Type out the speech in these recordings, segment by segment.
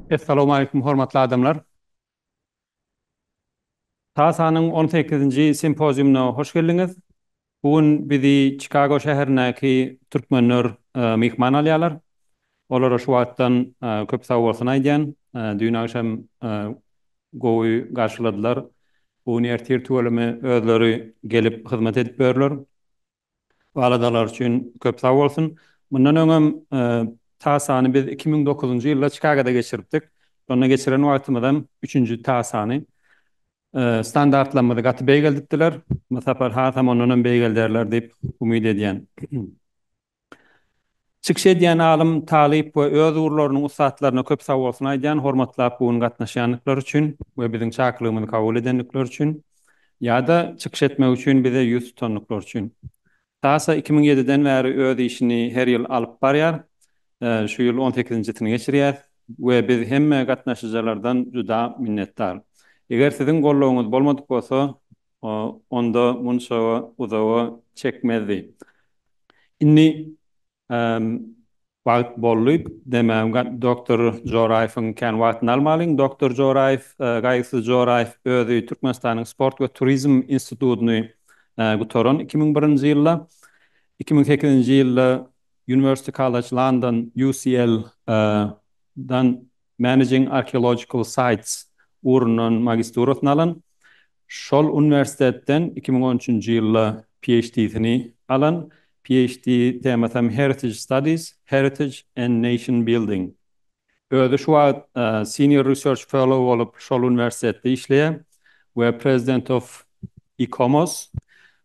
Essalowmaleýkum hormatly adamlar. TASA-nyň on sekizinji simpoziumyna hoş geldiňiz. Bu gün bizi Çikago şäherindäki türkmenler myhman alýarlar. Olara şu wagtdan köp sag bolsun aýdýan. Düýn agşam gowy garşyladylar. Bu gün ertir tüweleme özleri gelip hyzmat edip börler. Bu aladalar üçin köp sag bolsun. Mundan öňem TASA-ny biz iki müň dokuzynjy ýylda Çikagoda geçiripdik. Şonda geçiren wagtymyzam üçünji TASA-ny Standartlarymyzy gaty beýgeldipdiler. Bu sapar hasam ondanam beýgelderler diýip umyt edýän. Çykyş edýän alym, talyp we öz ugurlarynyň ussatlaryna köp sag bolsun aýdýan, hormatlap bu gün gatnaşýandyklary üçin we biziň çakylygymyzy kabul edendikleri üçin ýa-da çykyş etmek üçin bize ýüz tutandyklary üçin. Kasa iki müň ýediden bäri öz işini her ýyl alyp barýar. Şu ýyl on sekizinjisini geçirýäs we biz hemme gatnaşyjalardan juda minnetdar. Eger siziň goldawyňyz bolmadyk bolsa, onda munça uzaga çekmezdi. Indi Hem wagt boldy demem Doktor Joraýewiň kän wagtyny almalyň Doktor Joraýew Gaýgysyz Joraýew özi Türkmenistanyň Sport we turizm institutyny gutaran iki müň birinji ýylda iki müň sekizinji ýylda University College London UCL dan Managing Archaeological Sites ugrundan magisturasyny alan. Şol uniwersitetden iki müň on üçünji ýylda PHD-sini alan. PHD temasam Heritage Studies, Heritage and Nation Building. Özi şu wagt Senior Research Fellow bolup şol uniwersitetde işleýär we President of ICOMOS.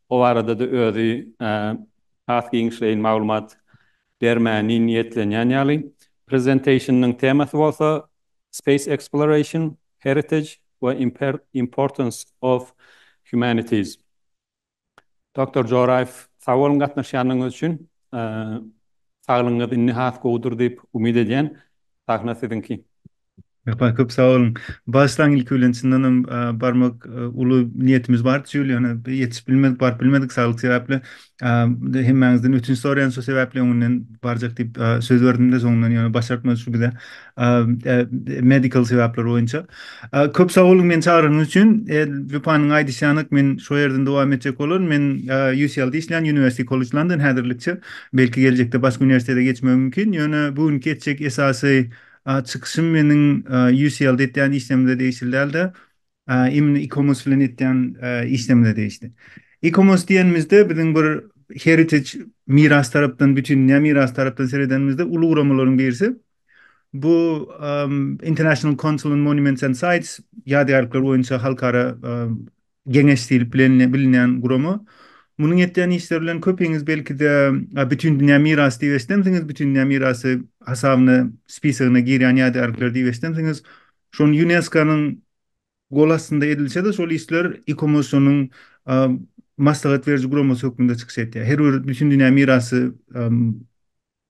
O barada-da özi has giňişleýin maglumat bermäni niýetlenýän ýaly, prezentationyň temasy bolsa Space Exploration, Heritage we Importance of Humanities. Doctor Joraýew, sag boluň gatnaşýanyňyz üçin. Saglygyňyz indi has gowudyr diýip umyt edýän. Sahna siziňki. Ýokary, köp sag boluň. Bagyşlaň, ilki bilen, çyndan hem, barmak uly niýetimiz bardy, şu ýyl ýöne ýetişip bilmedik, baryp bilmedik saglyk sebäpli. Hemmäňizden ötünç soraýan, şo sebäpli öňünden barjak diýip söz berdim-de, soňundan ýöne başartmady şu bize, medical sebäpler boýunça. Köp sag boluň meni çagyranyňyz üçin. Lupanyň aýdyşy ýanak, men şo ýerden dowam etjek bolaryn. Men UCL-de işleýän, University College London, häzirlikçe. Belki geljekde başga uniwersitete geçmegim mümkin. Ýöne bu günki etjek esasy çykyşym meniň UCL-de etýän işlemde degişli däldi. Imini e-commerce bilen etýän işlemde degişli. E-commerce diýenimizde biziň bir heritage miras tarapdan bütin dünýä miras tarapdan seredenimizde uly guramalaryň birisi. Bu International Council on Monuments and Sites ýadygärlikler boýunça halkara Geňeş diýlip bilenle bilinýän gurama. Munuň etýän işleri bilen köpiňiz belki-de Bütindünýä mirasy diýip eşidensiňiz, Bütindünýä mirasy hasabyna, spisigine girýän ýadygärlikler diýip eşidensiňiz. Şony UNESCO-nyň gol astynda edilse-de, şol işler ICOMOS-ynyň maslahat beriji guramasy hökmünde çykyş etýär. Her bir Bütindünýä mirasy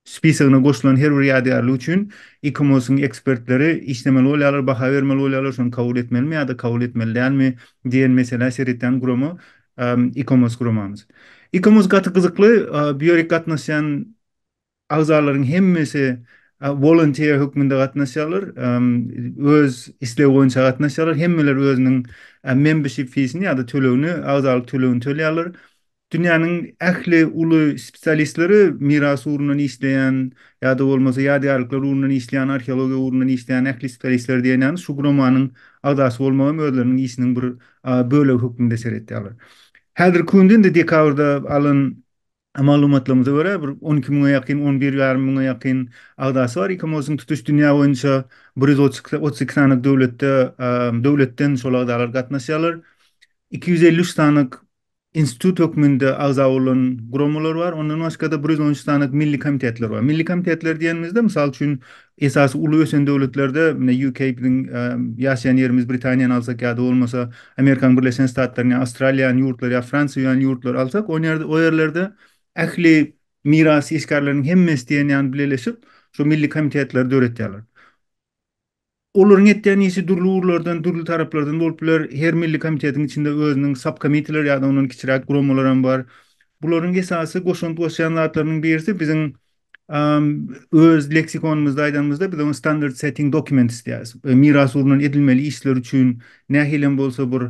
Spisagine goşulan her bir ýadygärlik üçin ICOMOS-yň ekspertleri işlemeli bolýarlar, baha bermeli bolýarlar, şony kabul etmelimi ýa-da kabul etmeli dälmi diýen meselä seredýän gurama ICOMOS guramamyz. ICOMOS gaty gyzykly, bu ýerik gatnaşýan agzalaryň hemmesi wolontiýer hökmünde gatnaşýarlar, öz islegi boýunça gatnaşýarlar, hemmeler özüniň membership feesini ýa-da tölegini, agzalyk tölegini tölýärler. Dünýäniň ähli uly spesialistleri miras ugrundan işleýän ýa-da bolmasa ýadygärlikler ugrundan işleýän, arheologiýa ugrundan işleýän ähli spesialistler diýen ýaly şu guramanyň agzasy bolmagy hem özleriniň işiniň bir bölegi hökmünde seretýärler. Häzirki günde indi dekabrda alan maglumatlarymyza görä bir on iki müňe ýakyn, on bir ýarym müňe ýakyn agzasy bar. ICOMOS-yň tutuş dünýä boýunça bir ýüz otuz iki sany döwletde döwletden şol agzalar gatnaşýarlar. Iki ýüz elli üç sany Institut hökmünde agza bolan guramalar bar. Ondan başga-da bir ýüz on üç sany milli komitetler bar. Milli komitetler diýenimizde, mysal üçin, esasy uly ösen döwletlerde, ine, UK biziň ýaşaýan ýerimiz, Britaniýany alsak ýa-da bolmasa Amerikanyň Birleşen Ştatlaryny ýa Awstraliýany ýurtlary ýa Fransiýa ýaly ýurtlary alsak, o ýerde, o ýerlerde ähli miras işgärleriniň hemmesi diýen ýaly bileleşip, şu milli komitetleri döretýärler. Olaryň etýän işi dürli ugurlardan, dürli taraplardan bolup biler. Her milli komitetiň içinde özüniň subkomiteler ýa-da ondan kiçiräk guramalar hem bar. Bularyň esasy goşant goşýan zatlarynyň birisi biziň öz leksikonymyzda aýdanymyzda biz oňa standard setting documents diýýäris. Mirasy urnan edilmeli işler üçin nähili hem bolsa bir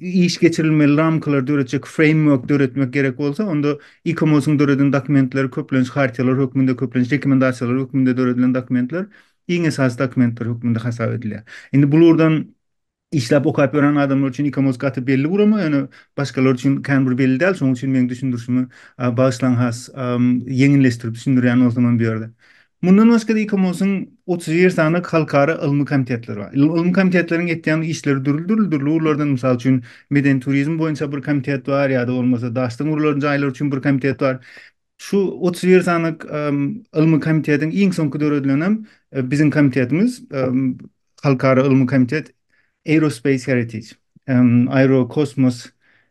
iş geçirilmeli ramkalar döretjek framework döretmek gerek bolsa, onda e-commerce-iň döreden dokumentleri köplenç hartiýalar hökmünde, köplenç rekomendasiýalar hökmünde döredilen dokumentler iň esasy dokumentler hökmünde hasap edilýär. Indi bu lurdan işläp okap ýören adamlar üçin e-commerce gaty belli gurama, ýöne başgalar üçin kän bir belli däl, şonuň üçin meň düşündirişimi bagyşlaň has ýeňilleşdirip düşündirýän bolsam hem bu ýerde. Mundan başga-da ICOMOS-yň otuz bir sany halkara ylmy komitetleri bar. Ylmy komitetleriň etýän işleri dürli-dürli dürli ugurlardan, mysal üçin, medeni turizm boýunça bir komitet bar ýa-da bolmasa daşdan gurlan jaýlar üçin bir komitet bar. Şu otuz bir sany ylmy komitetiň iň soňky döredilenem biziň komitetimiz. Halkara ylmy komitet Aerospace Heritage, Aerokosmos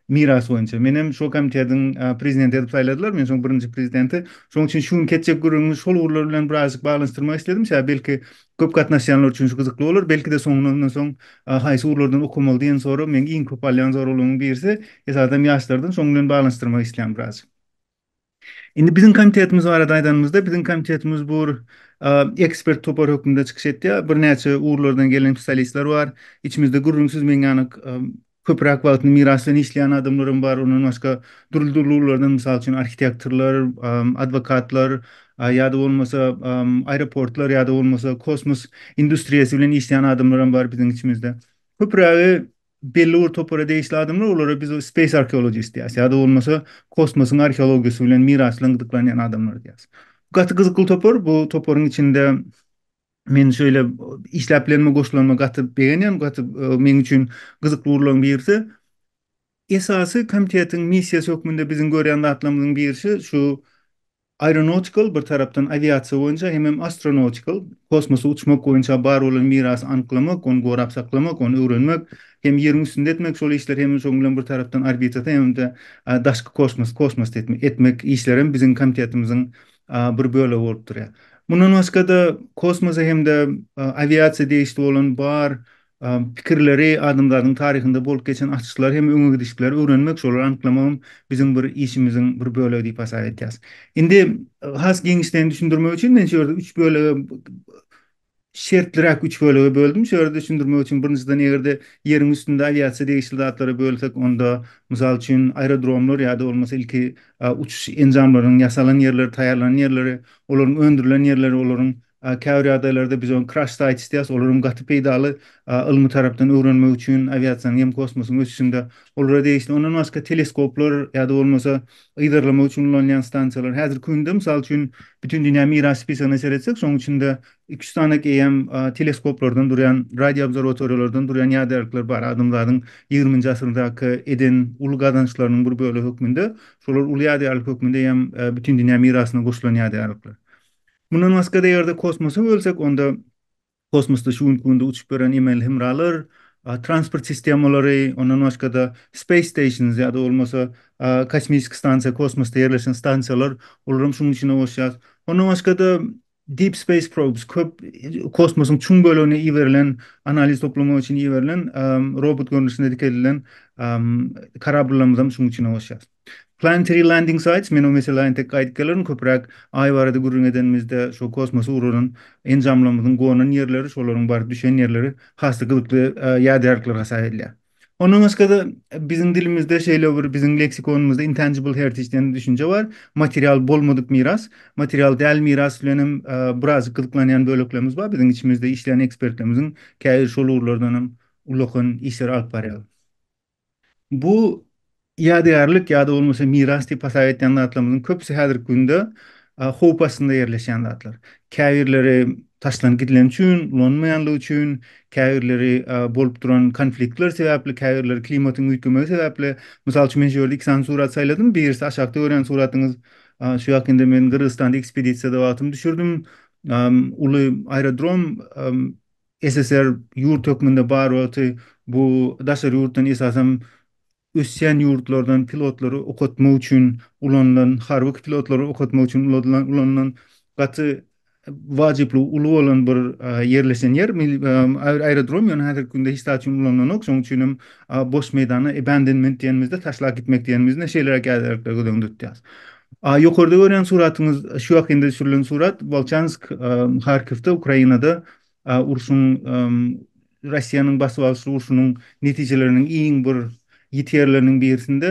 mirasy boýunça. Menem şo komitetiň prezidenti edip saýladylar, men şoň birinji prezidenti. Şoň üçin şu günki etjek gürrüňimi şol ugurlar bilen birazajyk baglanyşdyrmak isledim. Şä belki köp gatnaşýanlar üçin şu gyzykly bolar. Belki-de soňuna ondan soň haýsy ugurlardan okamaly diýen sorag meň iň köp alýan soraglarymyň birisi. Esasan ýaşlardan şoň bilen baglanyşdyrmak isleýän birazajyk. Indi biziň komitetimiz barada aýdanymyzda, biziň komitetimiz bu ekspert topar hökmünde çykyş etýär. Birnäçe ugurlardan gelen spesialistler bar. Içimizde gürrüňsiz meň ýaly köpräk wagtyny miras bilen işleýän adamlar hem bar. Ondan başga dürli-dürli ugurlardan, mysal üçin, arhitektorlar, adwokatlar ýa-da bolmasa aeroportlar ýa-da bolmasa kosmos industriýasy bilen işleýän adamlar hem bar biziň içimizde. Köprägi belli bir topara degişli adamlar, olara biz space archaeologist diýýäs, ýa-da bolmasa kosmosyň arheologiýasy bilen miraslan gyzyklanýan adamlar diýýäs. Gaty gyzykly topar, bu toparyň içinde men şeýle işläp bilenime goşulanyma gaty begenýän, gaty meň üçin gyzykly ugurlaryň birisi. Esasy komitetiň missiýasy hökmünde biziň görýän zatlarymyzyň birisi şu Aeronautical, bir tarapdan, awiasiýa boýunça hemem astronautical, kosmosa uçmak boýunça bar bolan mirasy anyklamak, ony gorap saklamak, ony öwrenmek hem Ýeriň üstünde etmek şol işleri hemem şonuň bilen bir tarapdan orbitasy hemem-de daşky kosmos, kosmosda etmek, etmek işlerem biziň komitetimiziň bir bölegi bolup durýar. Mundan başga-da kosmosa hem-de awiasiýa degişli bolan bar pikirleri, adamzadyň taryhynda bolup geçen açyşlary hem öňe gidişikleri öwrenmek, şolary anyklamak hem biziň bir işimiziň bir bölegi diýip hasap edýäs. Indi has giňişleýin düşündirmek üçin men şu ýerde üç bölege, şertliräk üç bölege böldüm. Şu ýerde düşündirmek üçin birinjiden eger-de ýeriň üstünde awiasiýa degişli zatlara bölsek, onda, mysal üçin, aerodromlar ýa-da bolmasa ilki uçuş enjamlarynyň ýasalan ýerleri, taýýarlanan ýerleri, olaryň öndürilen ýerleri, olaryň Käbir ýagdaýlarda biz ony crash sites diýýäs, olar hem gaty peýdaly ylmy tarapdan öwrenmek üçin, awiasiýanyň hem kosmosyň ösüşinde olara degişli. Ondan başga teleskoplar ýa-da bolmasa yzarlamak üçin ulanylýan stansiýalar. Häzirki günde mysal üçin bütin dünýä miras spisigine seretsek, şonuň içinde iki-üç sanak eýýäm teleskoplardan durýan, radioobserwatoriýalardan durýan ýadälikler bar. Adamzadyň ýigriminji asyrdaky eden uly gazançlarynyň bir bölegi hökmünde şolar uly ýadälik hökmünde eýýäm bütin dünýä mirasyna goşulan ýadälikler. Mundan başga-da eger-de kosmosa bölsek, onda kosmosda şu günki günde uçup ýören emeli hemralar, transport sistemalary, ondan başga-da space stations ýa-da bolmasa kosmisik stansiýa, kosmosda ýerleşen stansiýalar, olary hem şunuň içine goşýarys. Ondan başga-da deep space probes, köp kosmosyň çuň bölegine iberilen, analiz toplamak üçin iberilen robot görnüşinde dikelilen korabllarymy hem şunuň içine goşýarys. Planetary Landing Sites, men o meselä entek gaýdyp gelerin, köpräk Aý barada gürrüň edenimizde şo kosmosa ugranan enjamlarymyzyň gonan ýerleri, şolaryň baryp düşen ýerleri has-da gyzykly ýadygärlikler hasap edilýär. Ondan başga-da biziň dilimizde şeýle bir biziň leksikonymyzda intangible heritage diýen düşünje bar, material bolmadyk miras, material däl miras bilen hem birazjyk gyzyklanýan böleklerimiz bar, biziň içimizde işleýän ekspertlerimiziň käbiri şol ugurlardan hem ullakan işleri alyp barýarlar. Bu ýadygärlik ýa-da bolmasa miras diýip hasap etýän zatlarymyzyň köpüsi häzirki günde howp astynda ýerleşýän zatlar. Käbirleri taşlanyp gidileni üçin, ulanylmaýanlygy üçin, käbirleri bolup duran konfliktler sebäpli, käbirleri klimatyň üýtgemegi sebäpli. Mysal üçin, men şu ýerde iki sany surat saýladym. Birisi aşakda görýän suratyňyz, şu ýakynda men Gyrgyzystanda ekspedisiýada wagtym düşürdim. Uly aerodrom SSR ýurt hökmünde bar wagty bu daşary ýurtdan esasam ösýän ýurtlardan pilotlary okatmak üçin ulanylan harby pilotlary okatmak üçin ulanylan gaty wajyplygy uly bolan bir ýerleşen ýer aerodrom ýöne häzirki günde hiç zat üçin ulanylanok şoň üçinem boş meýdana abandonment diýenimizde taşlap gitmek diýenimizde şeýleräk ýaderlikler göz öňünde tutýas A ýokarda görýän suratyňyz şu ýakynda düşürilen surat, Bolçansk, Harkiwde, Ukrainada urşuň, Russiýanyň basyp alyş urşunyň netijeleriniň iň bir ýiti ýerleriniň birisinde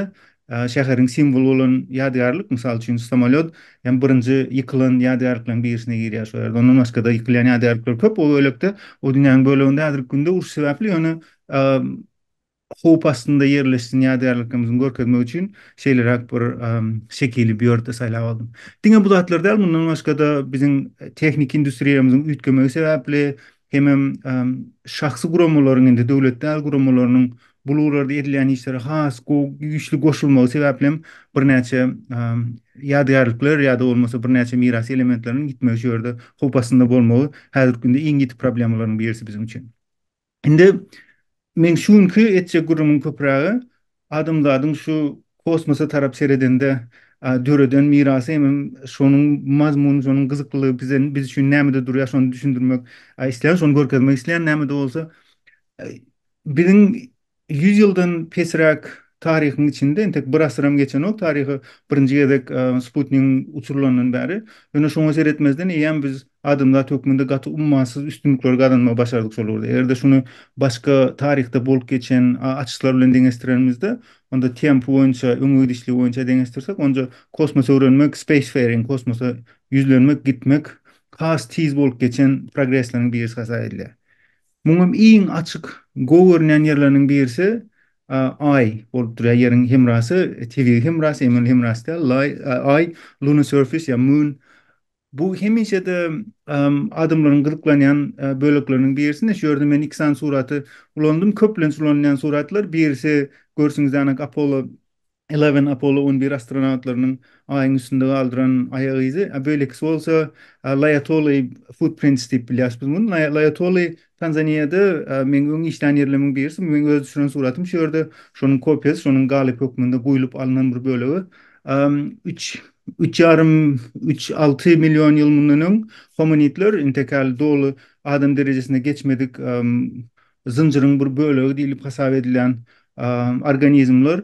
şäheriň simwoly bolan ýadygärlik, mysal üçin, samolýot hem birinji ýykylan ýadygärlikleriň birisine girýär şol ýerde. Ondan başga-da ýykylýan ýadygärlikler köp, o bölekde, o dünýäniň böleginde häzirki günde uruş sebäpli, ýöne howp astynda ýerleşsin ýadygärliklerimiziň görkezmek üçin şeýleräk bir şekili bu ýerde saýlap aldym. Diňe bu zatlar däl, mundan başga-da biziň tehniki industriýamyzyň üýtgemegi sebäpli hemem şahsy guramalaryň hem-de döwlet däl guramalarynyň bu ugurlarda edilýän işlere has gowy, güýçli goşulmagy sebäpli hem birnäçe ýadygärlikler ýa-da bolmasa birnäçe miras elementleriniň ýitmegi şu ýerde howp astynda bolmagy häzirki günde iň ýiti problemalaryň birisi biziň üçin. Indi meň şu günki etjek gürrüňim köpürägi adamzadyň şu kosmosa tarap seredende döreden mirasy hemem şonuň mazmuny şonuň gyzyklylygy bize biz üçin nämede durýar şony düşündirmek islän şony görkezmek islän nämede bolsa biziň Ýüz ýyldan pesräk taryhyň içinde, entek bir asyram geçenok taryhy birinji gezek sputnigiň uçurylandan bäri. Ýöne şoňa seretmezden eýýäm biz adamzat hökmünde gaty ummasyz üstünlikleri gazanmagy başardyk şol ugurda. Eger-de şuny başga taryhda bolup geçen açyşlar bilen deňeşdirenimizde, onda tempi boýunça, öňe gidişligi boýunça deňeşdirsek, onja kosmos öwrenmek, spacefaring, kosmosa ýüzlenmek, gitmek has tiz bolup geçen progresleriň birisi hasap edilýär. Muňam iň açyk, gowy görünýän ýerleriniň birisi Aý bolup durýar. Ýeriň hemrasy, tebigy hemrasy, emeli hemrasy däl, Laý, Aý, Lunar Surface ýa Moon. Bu hemişe-de adamlaryň gyzyklanýan bölekleriniň birisi. Ine, şu ýerde men iki sany suraty ulandym. Köplenç ulanylýan suratlar, birisi, görşüňizde, anak Apollo Eleven, Apollo on bir astronawtlarynyň Aýyň üstünde galdyran aýak yzy, a beýlekisi bolsa Laýatoly footprints diýip bilýäris biz muny. Laý, Laýatoly Tanzaniýada meň öň işlän ýerlemiň birisi, bu meň öz düşüren suratym şu ýerde, şonuň kopiýasy, şonuň galyp hökmünde guýlup alnan bir bölegi. Üç, üç ýarym, üç, alty million ýyl mundan öň homonidler, intekäl doly adam derejesine geçmedik zynjyryň bir bölegi diýlip hasap edilýän organizmler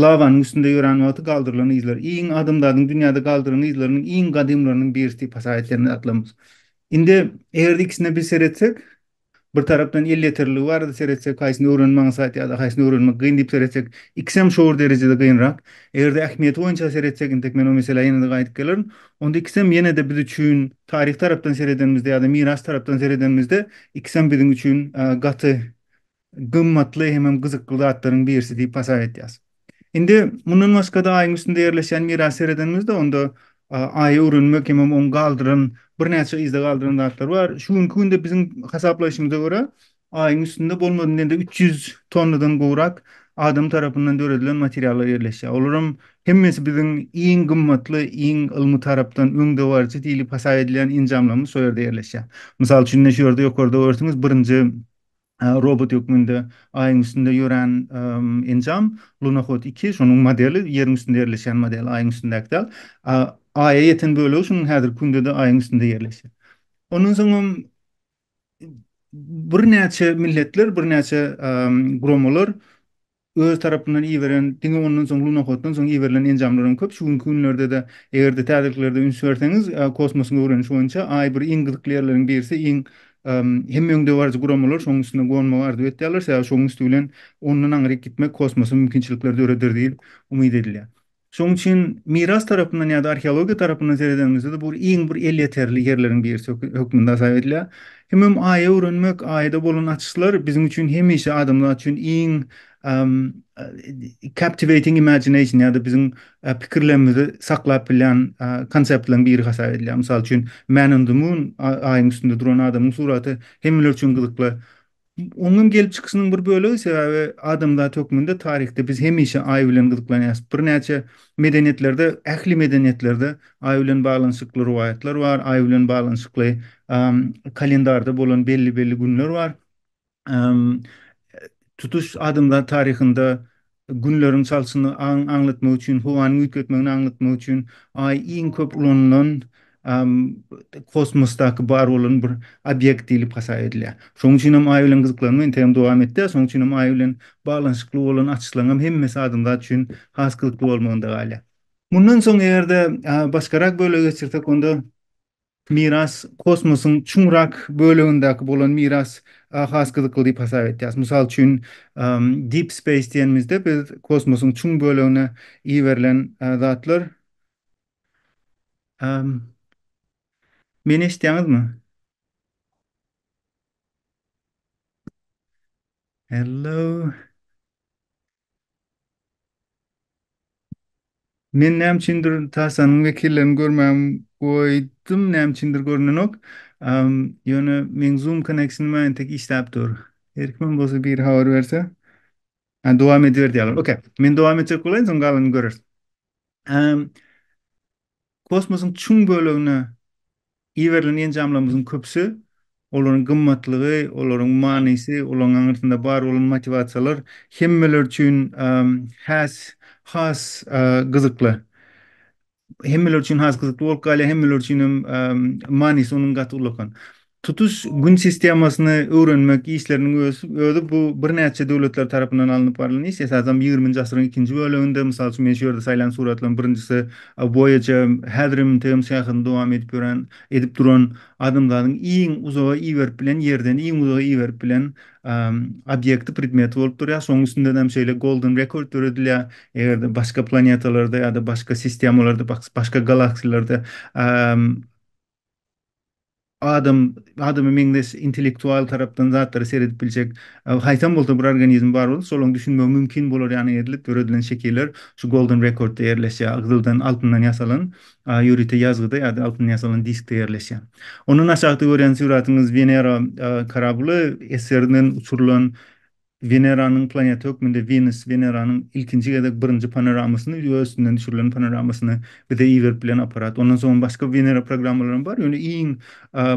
lawanyň üstünde ýörän wagty galdyrylan yzlar. Iň adamzadyň dünýäde galdyran yzlarynyň iň gadymlarynyň birisi diýip hasap edilen zatlarymyz. Indi eger-de ikisine bir seretsek, bir tarapdan el ýeterliligi barada seretsek, haýsyny öwrenmek aňsat ýa-da haýsyny öwrenmek gyn diýip seretsek, ikisem şo bir derejede gynrak. Eger-de ähmiýeti boýunça seretsek, entek men o meselä ýene-de gaýdyp gelerin, Onda ikisem ýene-de biz üçin taryh tarapdan seredenimizde ýa-da miras tarapdan seredenimizde ikisem biziň üçin gaty gymmatly hemem gyzykly zatlaryň birisi diýip hasap edýäs. Indi mundan başga-da Aýyň üstünde ýerleşýän mirasy seredenimizde onda Aýy öwrenmek hemem oň galdyran birnäçe yzda galdyran zatlary bar. Şu günki günde biziň hasaplaýşymyza görä Aýyň üstünde bolmasa diýende üç ýüz tonnadan gowrak adam tarapyndan döredilen materiallar ýerleşýär. Olaram hemmesi biziň iň gymmatly, iň ylmy tarapdan öňdebaryjy diýlip hasap edilýän enjamlarymyz şol ýerde ýerleşýär. Mysal üçin ine şu ýerde ýokarda görseňiz birinji robot hökmünde Aýyň üstünde ýörän enjam Lunohod iki şonuň modeli ýeriň üstünde ýerleşýän model Aýyň üstündäki däl. Aýa ýeten bölegi şunuň häzirki günde-de Aýyň üstünde ýerleşýär. Ondan soňam birnäçe milletler, birnäçe guramalar öz tarapyndan iberen, diňe ondan soň lunohoddan soň iberilen enjamlaryň köp şu günki günlerde-de, eger-de täzeliklerde üns berseňiz, kosmosyň öwrenişi boýunça Aý bir iň gyzykly ýerleriň birisi, iň hemme öňdebaryjy guramalar şonuň üstünde gonmagy arzuw etýärler, sebäbi şonuň üsti bilen ondan aňryk gitmek kosmosa mümkinçilikler döreder diýlip umyt edilýär. Şonuň üçin miras tarapyndan ýa-da arheologiýa tarapyndan seredeniňizde-de bu iň bir elýeterli ýerleriň birisi hökmünde hasap edilýär. Hemem Aýy öwrenmek, Aýda bolan açyşlar biziň üçin hemişe adamzat üçin iň captivating imagination ýa-da biziň pikirlerimizi saklap bilýän konseptlaryň biri hasap edilýär. Mysal üçin Man on the Moon, Aýyň üstünde duran adamyň suraty hemmeler üçin gyzykly. Oňem gelip çykyşynyň bir bölegi sebäbi adamzat hökmünde taryhda biz hemişe Aý bilen gyzyklanýas. Birnäçe medeniýetlerde, ähli medeniýetlerde Aý bilen baglanyşykly rowaýatlar bar, Aý bilen baglanyşykly kalendarda bolan belli-belli günler bar. Tutuş adamzat taryhynda Günleriň çalşyny aňlatmak üçin, howanyň üýtgetmegini aňlatmak üçin Aý iň köp ulanylan kosmosdaky bar bolan bir obýekt diýlip hasap edilýär. Şonuň üçin hem Aý bilen gyzyklanma entegem dowam etdi. Şonuň üçin hem Aý bilen baglanyşykly bolan açyşlaryň hem hemmesi adamzat üçin has gyzykly bolmagynda galýar. Mundan soň eger-de başgarak bölege geçirsek, onda Miras, kosmosyň çuň rak bölegindäki bolan miras has gyzykly diýip hasap etýäris. Mysal üçin, deep space diýenimizde biz kosmosyň çuň bölegine iberilen zatlar, meni eşitýäňizmi? Hello. Men näme üçindir Tarsanyň wekillerini görmägim goýdum, näme üçindir görnenok. Am, ýöne meň Zoom connectionym entek işläp dur. Her kimem bolsa biri habar berse. Ha, dowam ediber diýýärler. Okey. Men dowam etjek bolaýyn, soň galanyny göreris. Am, Kosmosyň çuň bölegine iberilen enjamlarymyzyň köpüsi, olaryň gymmatlygy, olaryň manysy, olaryň aňyrsynda bar bolan motiwasiýalar hemmeler üçin has has gyzykly. Hemmeler üçin has gyzykly bolup galýar, hemmeler üçin hem manysy onuň gaty ullakan. Tutuş Gün sistemasyny öwrenmek işleriniň özi bu birnäçe döwletler tarapyndan alnyp barlan iş. Esasanam ýigriminji asyryň ikinji böleginde, mysal üçin, men şu ýerde saýlan suratlaryň birinjisi Voyager, häzir hem MTM syýahatyny dowam edip ýören, edip duran, adamzadyň iň uzaga iberip bilen, Ýerden iň uzaga iberip bilen obýekti, predmeti bolup durýar. Şonuň üstünden hem şeýle golden record döredilýär. Eger-de başga planetalarda ýa-da başga sistemalarda, başga galaksiýalarda adam adama meňzeş intellektual tarapdan zatlara seredip biljek haýsam bolsa bir organizm bar bolup, şolaň düşünmegi mümkin bolar ýaly edilip döredilen şekiller şu Golden Record-da ýerleşýär, gyzyldan, altyndan ýasalan ýörite ýazgyda ýa-da altyndan ýasalan diskde ýerleşýär. Ondan aşakda görýän suratyňyz Wenera korably eserinden uçurylan Weneranyň planeta hökmünde Wenus, Weneranyň ilkinji gezek birinji panoramasyny, ýüze üstünden düşürilen panoramasyny bize iberip bilen apparat. Ondan soňam başga Wenera programmalaram bar, ýöne iň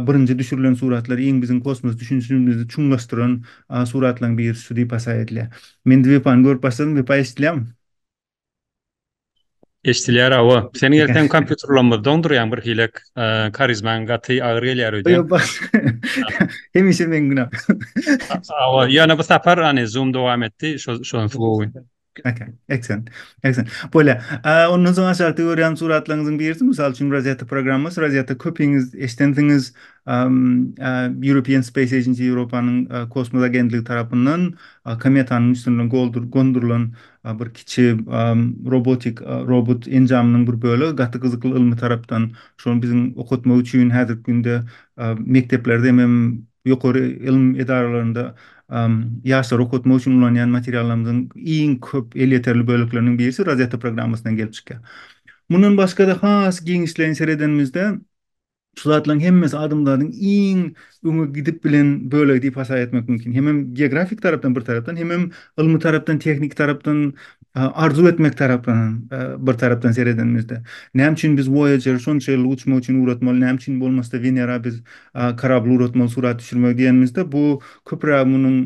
birinji düşürilen suratlar, iň biziň kosmos düşünişimizi çuňlaşdyran suratlaryň birisi şu diýip hasaýa edilýär. Men Wepa-ny görüp başladym, Wepa eşidilýärmi? Eşdilýär awa. Seniň ertem kompýuter ulanma doňdurýaň bir hilek. Karizmaň gaty agyr gelýär öýde. Hemişe meň günä. Awa, ýöne bu sapar hany zoom dowam etdi, şo şonusy gowy. Okey, excellent, excellent. Bolýa. Ondan soň aşakda görýän suratlaryňyzyň birisi, mysal üçin Rosetta programmasy, Rosetta köpiňiz eşidensiňiz, European Space Agency, Ýewropanyň kosmos agentligi tarapyndan kometanyň üstünden gondurylan a bir kiçi robotik robot enjamynyň bir bölegi gaty gyzykly ylmy tarapdan şony biziň okatmak üçin häzirki günde mekdeplerde hemem ýokary ylym edaralarynda ýaşlary okatmak üçin ulanýan materiallarymyzyň iň köp elýeterli bölekleriniň birisi rozetta programmasyndan gelip çykýar. Mundan başga-da has giňişleýin seredenimizde Şu zatlaryň hemmesi adamzadyň iň öňe gidip bilen bölegi diýip hasap etmek mümkin. Hemem geografik tarapdan bir tarapdan, hemem ylmy tarapdan, tehniki tarapdan, arzuw etmek tarapdan bir tarapdan seredenimizde. Näme üçin biz Voyager şonça ýyllyk uçmak üçin ugratmaly, näme üçin bolmasa-da Wenera biz korabl ugratmaly surat düşürmegi diýenimizde, bu köpüräk munuň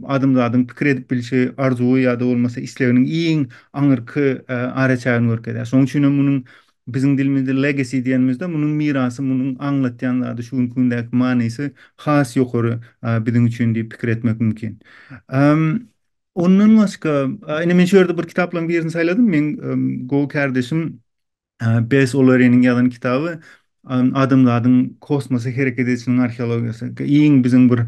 adamzadyň pikir edip bilşi arzuwy ýa-da bolmasa isleginiň iň aňyrky araçägini görkezýär. Şonuň üçin hem munuň Biziň dilimizde legacy diýenimizde munuň mirasy, munuň aňlatýan zady, şu günki gündäki manysy has ýokary biziň üçin diýip pikir etmek mümkin. Ondan başga, ine men şu ýerde bir kitaplaryň birini saýladym. Meň gowy kärdeşim Bess Oleriniň ýazan kitaby Adamzadyň kosmosa hereket edişiniň arheologiýasy. Iň biziň bir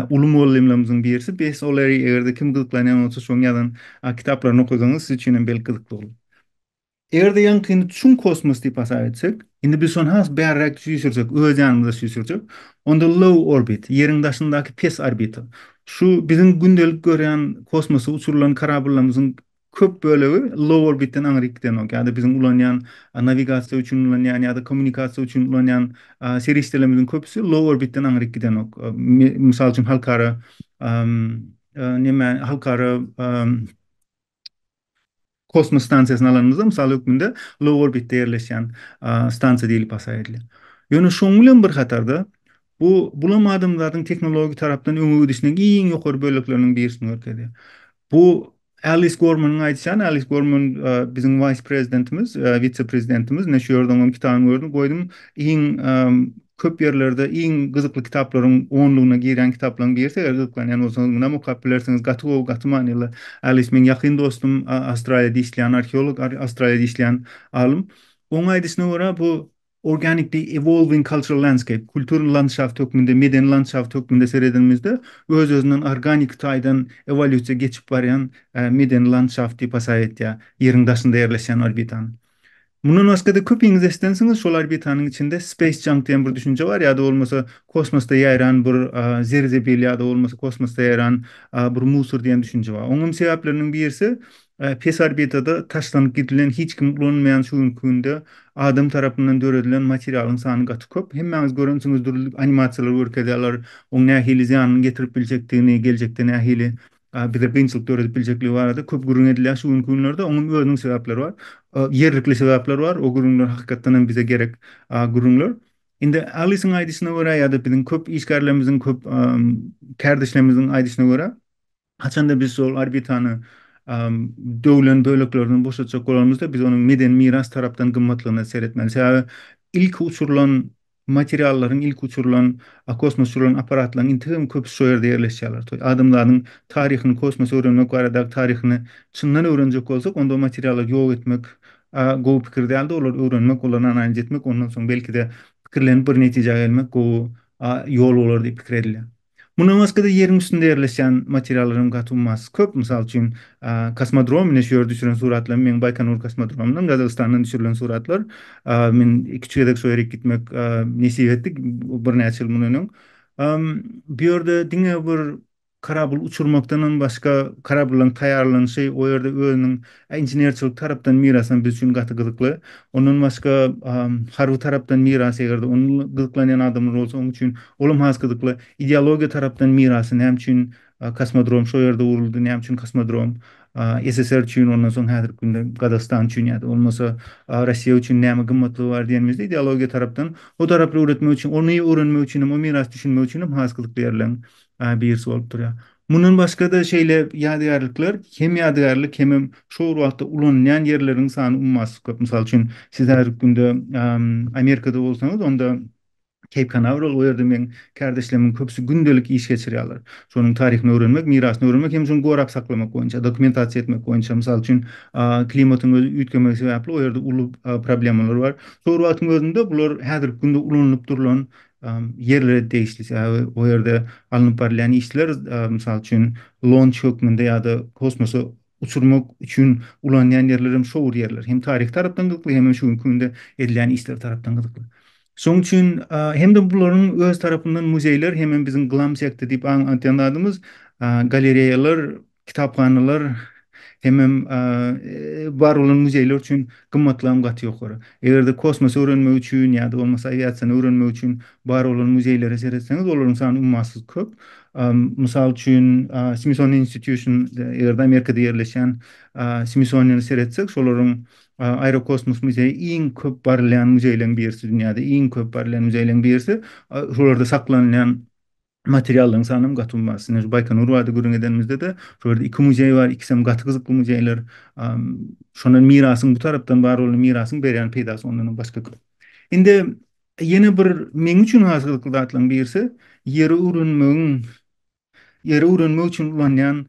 uly mugallymlarymyzyň birisi Bess Oleri, eger-de kim gyzyklanýan bolsa şoň ýazan kitaplaryny okasaňyz siz üçin hem belki gyzykly bolar. Eger-de ýaňkyny çuň kosmos diýip hasap etsek, indi biz şony has bärräk süýşürjek, öz ýanymyza süýşürjek, onda low orbit, Ýeriň daşyndaky pes orbita, şu biziň gündelik görýän kosmosa uçurylan korabllymyzyň köp bölegi low orbitden aňryk gidenok ýa-da biziň ulanýan nawigasiýa üçin ulanýan ýa-da kommunikasiýa üçin ulanýan serişdelerimiziň köpüsi low orbitden aňryk gidenok. Mysal üçin halkara neme halkara Kosmos stansiýasyny alanymyzda, mysal hökmünde, low orbitde ýerleşýän stansiýa diýlip hasaýa edilýär. Ýöne şonuň bilen bir hatarda, bu, bulam adamzadyň tehnologik tarapdan öňe gidişiniň iň ýokary bölekleriniň birisini görkezýär. Bu, Allis Gormanyň aýdyşan, Allis Gorman, biziň wise-prezidentimiz, wise-prezidentimiz, ine, şu ýerde onuň kitabyny gördüm, goýdum, iň köp ýerlerde iň gyzykly kitaplaryň onlugyna girýän kitaplaryň birisi, eger gyzyklanýan bolsaňyz munam okap bilersiňiz, gaty gowy, gaty manyly. Alice meň ýakyn dostum, Awstraliýada işleýän arheolog, Awstraliýada işleýän alym. Onuň aýdyşyna görä, bu organically evolving cultural landscape, kulturny landşaft hökmünde, medeni landşaft hökmünde seredenimizde, öz-özünden organiki taýdan ewolýusiýa geçip barýan medeni landşaft diýip hasaýa etýär, Ýeriň daşynda ýerleşýän orbitany. Mundan başga-da köpiňiz eşidensiňiz, şol orbitanyň içinde space junk diýen bir düşünje bar, ýa-da bolmasa kosmosda ýaýran bir zeri-zebil ýa-da bolmasa kosmosda ýaýran bir musor diýen düşünje bar. Oňam sebäpleriniň birisi, pes orbitada taşlanyp gidilen, hiç kim ulanmaýan şu günki günde adam tarapyndan döredilen materialyň sany gaty köp. Hemmäňiz görensiňiz dürli animasiýalar görkezýärler, oň nähili zyýanyny getirip biljekdigini, geljekde nähili bize kynçylyk döredip biljekligi barada köp gürrüň edilýär şu günki günlerde. Onuň özüniň sebäpleri bar. Ýerlikli sebäpler bar. O gürrüňler hakykatdan hem bize gerek gürrüňler. Indi Alisiň aýdyşyna görä ýa-da biziň köp işgärlerimiziň, köp kärdeşlerimiziň aýdyşyna görä, haçanda biz şol orbitany döwlen böleklerinden boşatjak bolanymyzda, biz onuň medeni miras tarapdan gymmatlygyna seretmeli. Sebäbi ilki uçurylan Materiallaryň ilki uçurylan, a kosmosa uçurylan apparatlaryň entek hem köpüsi şo ýerde ýerleşýärler. Toý adamzadyň taryhyny, kosmosy öwrenmek baradaky taryhyny çyndan öwrenjek bolsak, onda o materiallary ýok etmek, a gowy pikir däldi, olary öwrenmek, olaryny analiz etmek, ondan soň belki-de pikirlenip bir netijä gelmek gowy, a ýol bolar diýip pikir edilýär. Mundan başga-da Ýeriň üstünde ýerleşýän materiallaryň gaty ummasyz köp. Mysal üçin, kosmodrom, ine, şu ýerde düşüren suratlarym meň Baýkonur kosmodromyndan, Gazagystandan düşürilen suratlar. Men iki-üç gezek şo ýere gitmek nesip etdi, birnäçe ýyl mundan öň. Bu ýerde diňe bir karabyl uçurmakdanam başga, karabyllaryň taýýarlanyşy, o ýerde özüniň A Inženerçilik tarapdan miras hem biz üçin gaty gyzykly. Ondan başga harby tarapdan miras eger-de onuň gyzyklanýan adamlar bolsa onuň üçin ol hem has gyzykly. Ideologiýa tarapdan mirasy näme üçin kosmodrom şo ýerde guruldy, näme üçin kosmodrom SSR üçin ondan soň häzirki günde Gazagystan üçin ýa-da bolmasa Russiýa üçin näme gymmatlygy bar diýenimizde ideologiýa tarapdan o tarapy öwretmek üçin ony öwrenmek üçin hem o mirasy düşünmek üçin hem has gyzykly ýerler. Aý birisi bolup durýar. Mundan başga-da şeýle ýadygärlikler, hem ýadygärlik hemem şo bir wagtda ulanylýan ýerleriň sany ummasyz köp. Mysal üçin, siz häzirki günde Amerikada bolsaňyz, onda Keýp Kanawral, o ýerde meň kärdeşlemiň köpüsi gündelik iş geçirýärler. Şonuň taryhyny öwrenmek, mirasyny öwrenmek hem şony gorap saklamak boýunça, dokumentasiýa etmek boýunça. Mysal üçin, klimatyň özi üýtgemegi sebäpli o ýerde uly problemalar bar. Şo bir wagtyň özünde bular häzirki günde ulanylyp durlan ýerlere degişli, sebäbi o ýerde alnyp barylýan işler, mysal üçin, lonç hökmünde ýa-da kosmosa uçurmak üçin ulanýan ýerler hem şo bir ýerler. Hem taryhy tarapdan gyzykly, hem-de şu günki günde edilýän işler tarapdan gyzykly. Şonuň üçin hem-de bularyň öz tarapyndan muzeýler, hemem biziň glam-sekta diýip aň atýan zadymyz, galereýalar kitaphanalar hemem bar bolan muzeýler üçin gymmatlygy gaty ýokary. Eger-de kosmosy öwrenmek üçin ýa-da bolmasa awiasiýany öwrenmek üçin bar bolan muzeýlere seretseňiz, olaryň sany ummasyz köp. Mysal üçin, Smithsonian Institution, eger-de Amerikada ýerleşýän Smithsoniany seretsek, şolaryň Aerokosmos muzeýi iň köp barylýan muzeýleriň birisi, dünýäde iň köp barylýan muzeýleriň birisi. Şolarda saklanylýan materiallaryň sanynyň gaty uly bar. Baýkonur barada gürrüň edenimizde-de, şol ýerde iki muzeý bar, ikisem gaty gyzykly muzeýler. Şondan mirasyň bu tarapdan bar bolan mirasyň berýän peýdasy ondanam başga köp. Indi ýene bir meň üçin has gyzykly zatlaryň birisi, ýeri öwrenmegiň, ýeri öwrenmek üçin ulanýan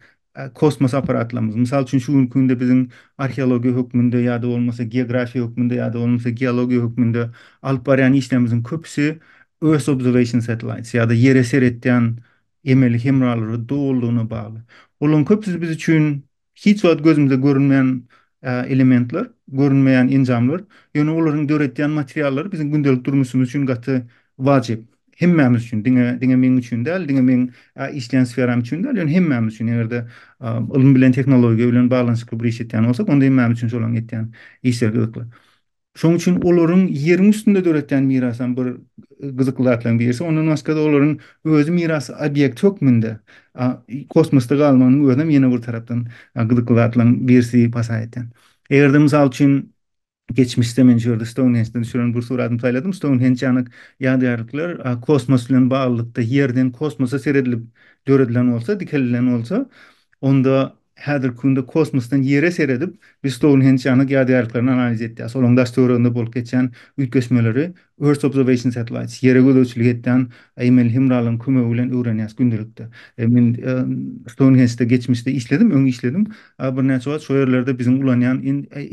kosmos apparatlarymyz, mysal üçin, şu günki günde biziň arheologiýa hökmünde ýa-da bolmasa geografiýa hökmünde ýa-da bolmasa geologiýa hökmünde alyp barýan işlerimiziň köpüsi Earth Observation Satellites ýa-da Ýere seretýän emeli hemralary dolulygyna bagly. Olaryň köpüsi biz üçin hiç wagt gözümize görünmeýän elementler, görünmeýän enjamlar, ýöne olaryň döretýän materiallary biziň gündelik durmuşymyz üçin gaty wajyp. hemmämiz üçin, diňe, diňe meň üçin däl, diňe meň işleýän sferam üçin däl, ýöne hemmämiz üçin, eger-de ylym bilen, tehnologiýa bilen baglanyşykly bir iş etýän bolsak, onda hemmämiz üçin şolaryň etýän işleri gyzykly. Şonuň üçin olaryň ýeriň üstünde döretýän mirasy hem bir gyzykly zatlaryň birisi. Ondan başga-da olaryň özi miras obýekti hökmünde kosmosda galmagynyň özi hem ýene bir tarapdan gyzykly zatlaryň birisi diýip hasap edýän. Eger-de, mysal üçin, Geçmişde men şu ýerde Stounhenjden düşüren bir suratymy saýladym. Stounhenj ýanak ýadygärlikler kosmos bilen baglylykda, Ýerden kosmosa seredilip döredilen bolsa, dikelilen bolsa, onda häzirki günde kosmosdan Ýere seredip, biz Stounhenj ýanak ýadygärliklerini analiz etýäris. Olaryň daş-töwereginde bolup geçýän üýtgeşmeleri Earth Observation Satellites, Ýere gözegçilik edýän aýmeli hemralaryň kömegi bilen öwrenýäs gündelikde. Men Stounhenjde geçmişde işledim, öň işledim. Birnäçe wagt şo ýerlerde biziň ulanýan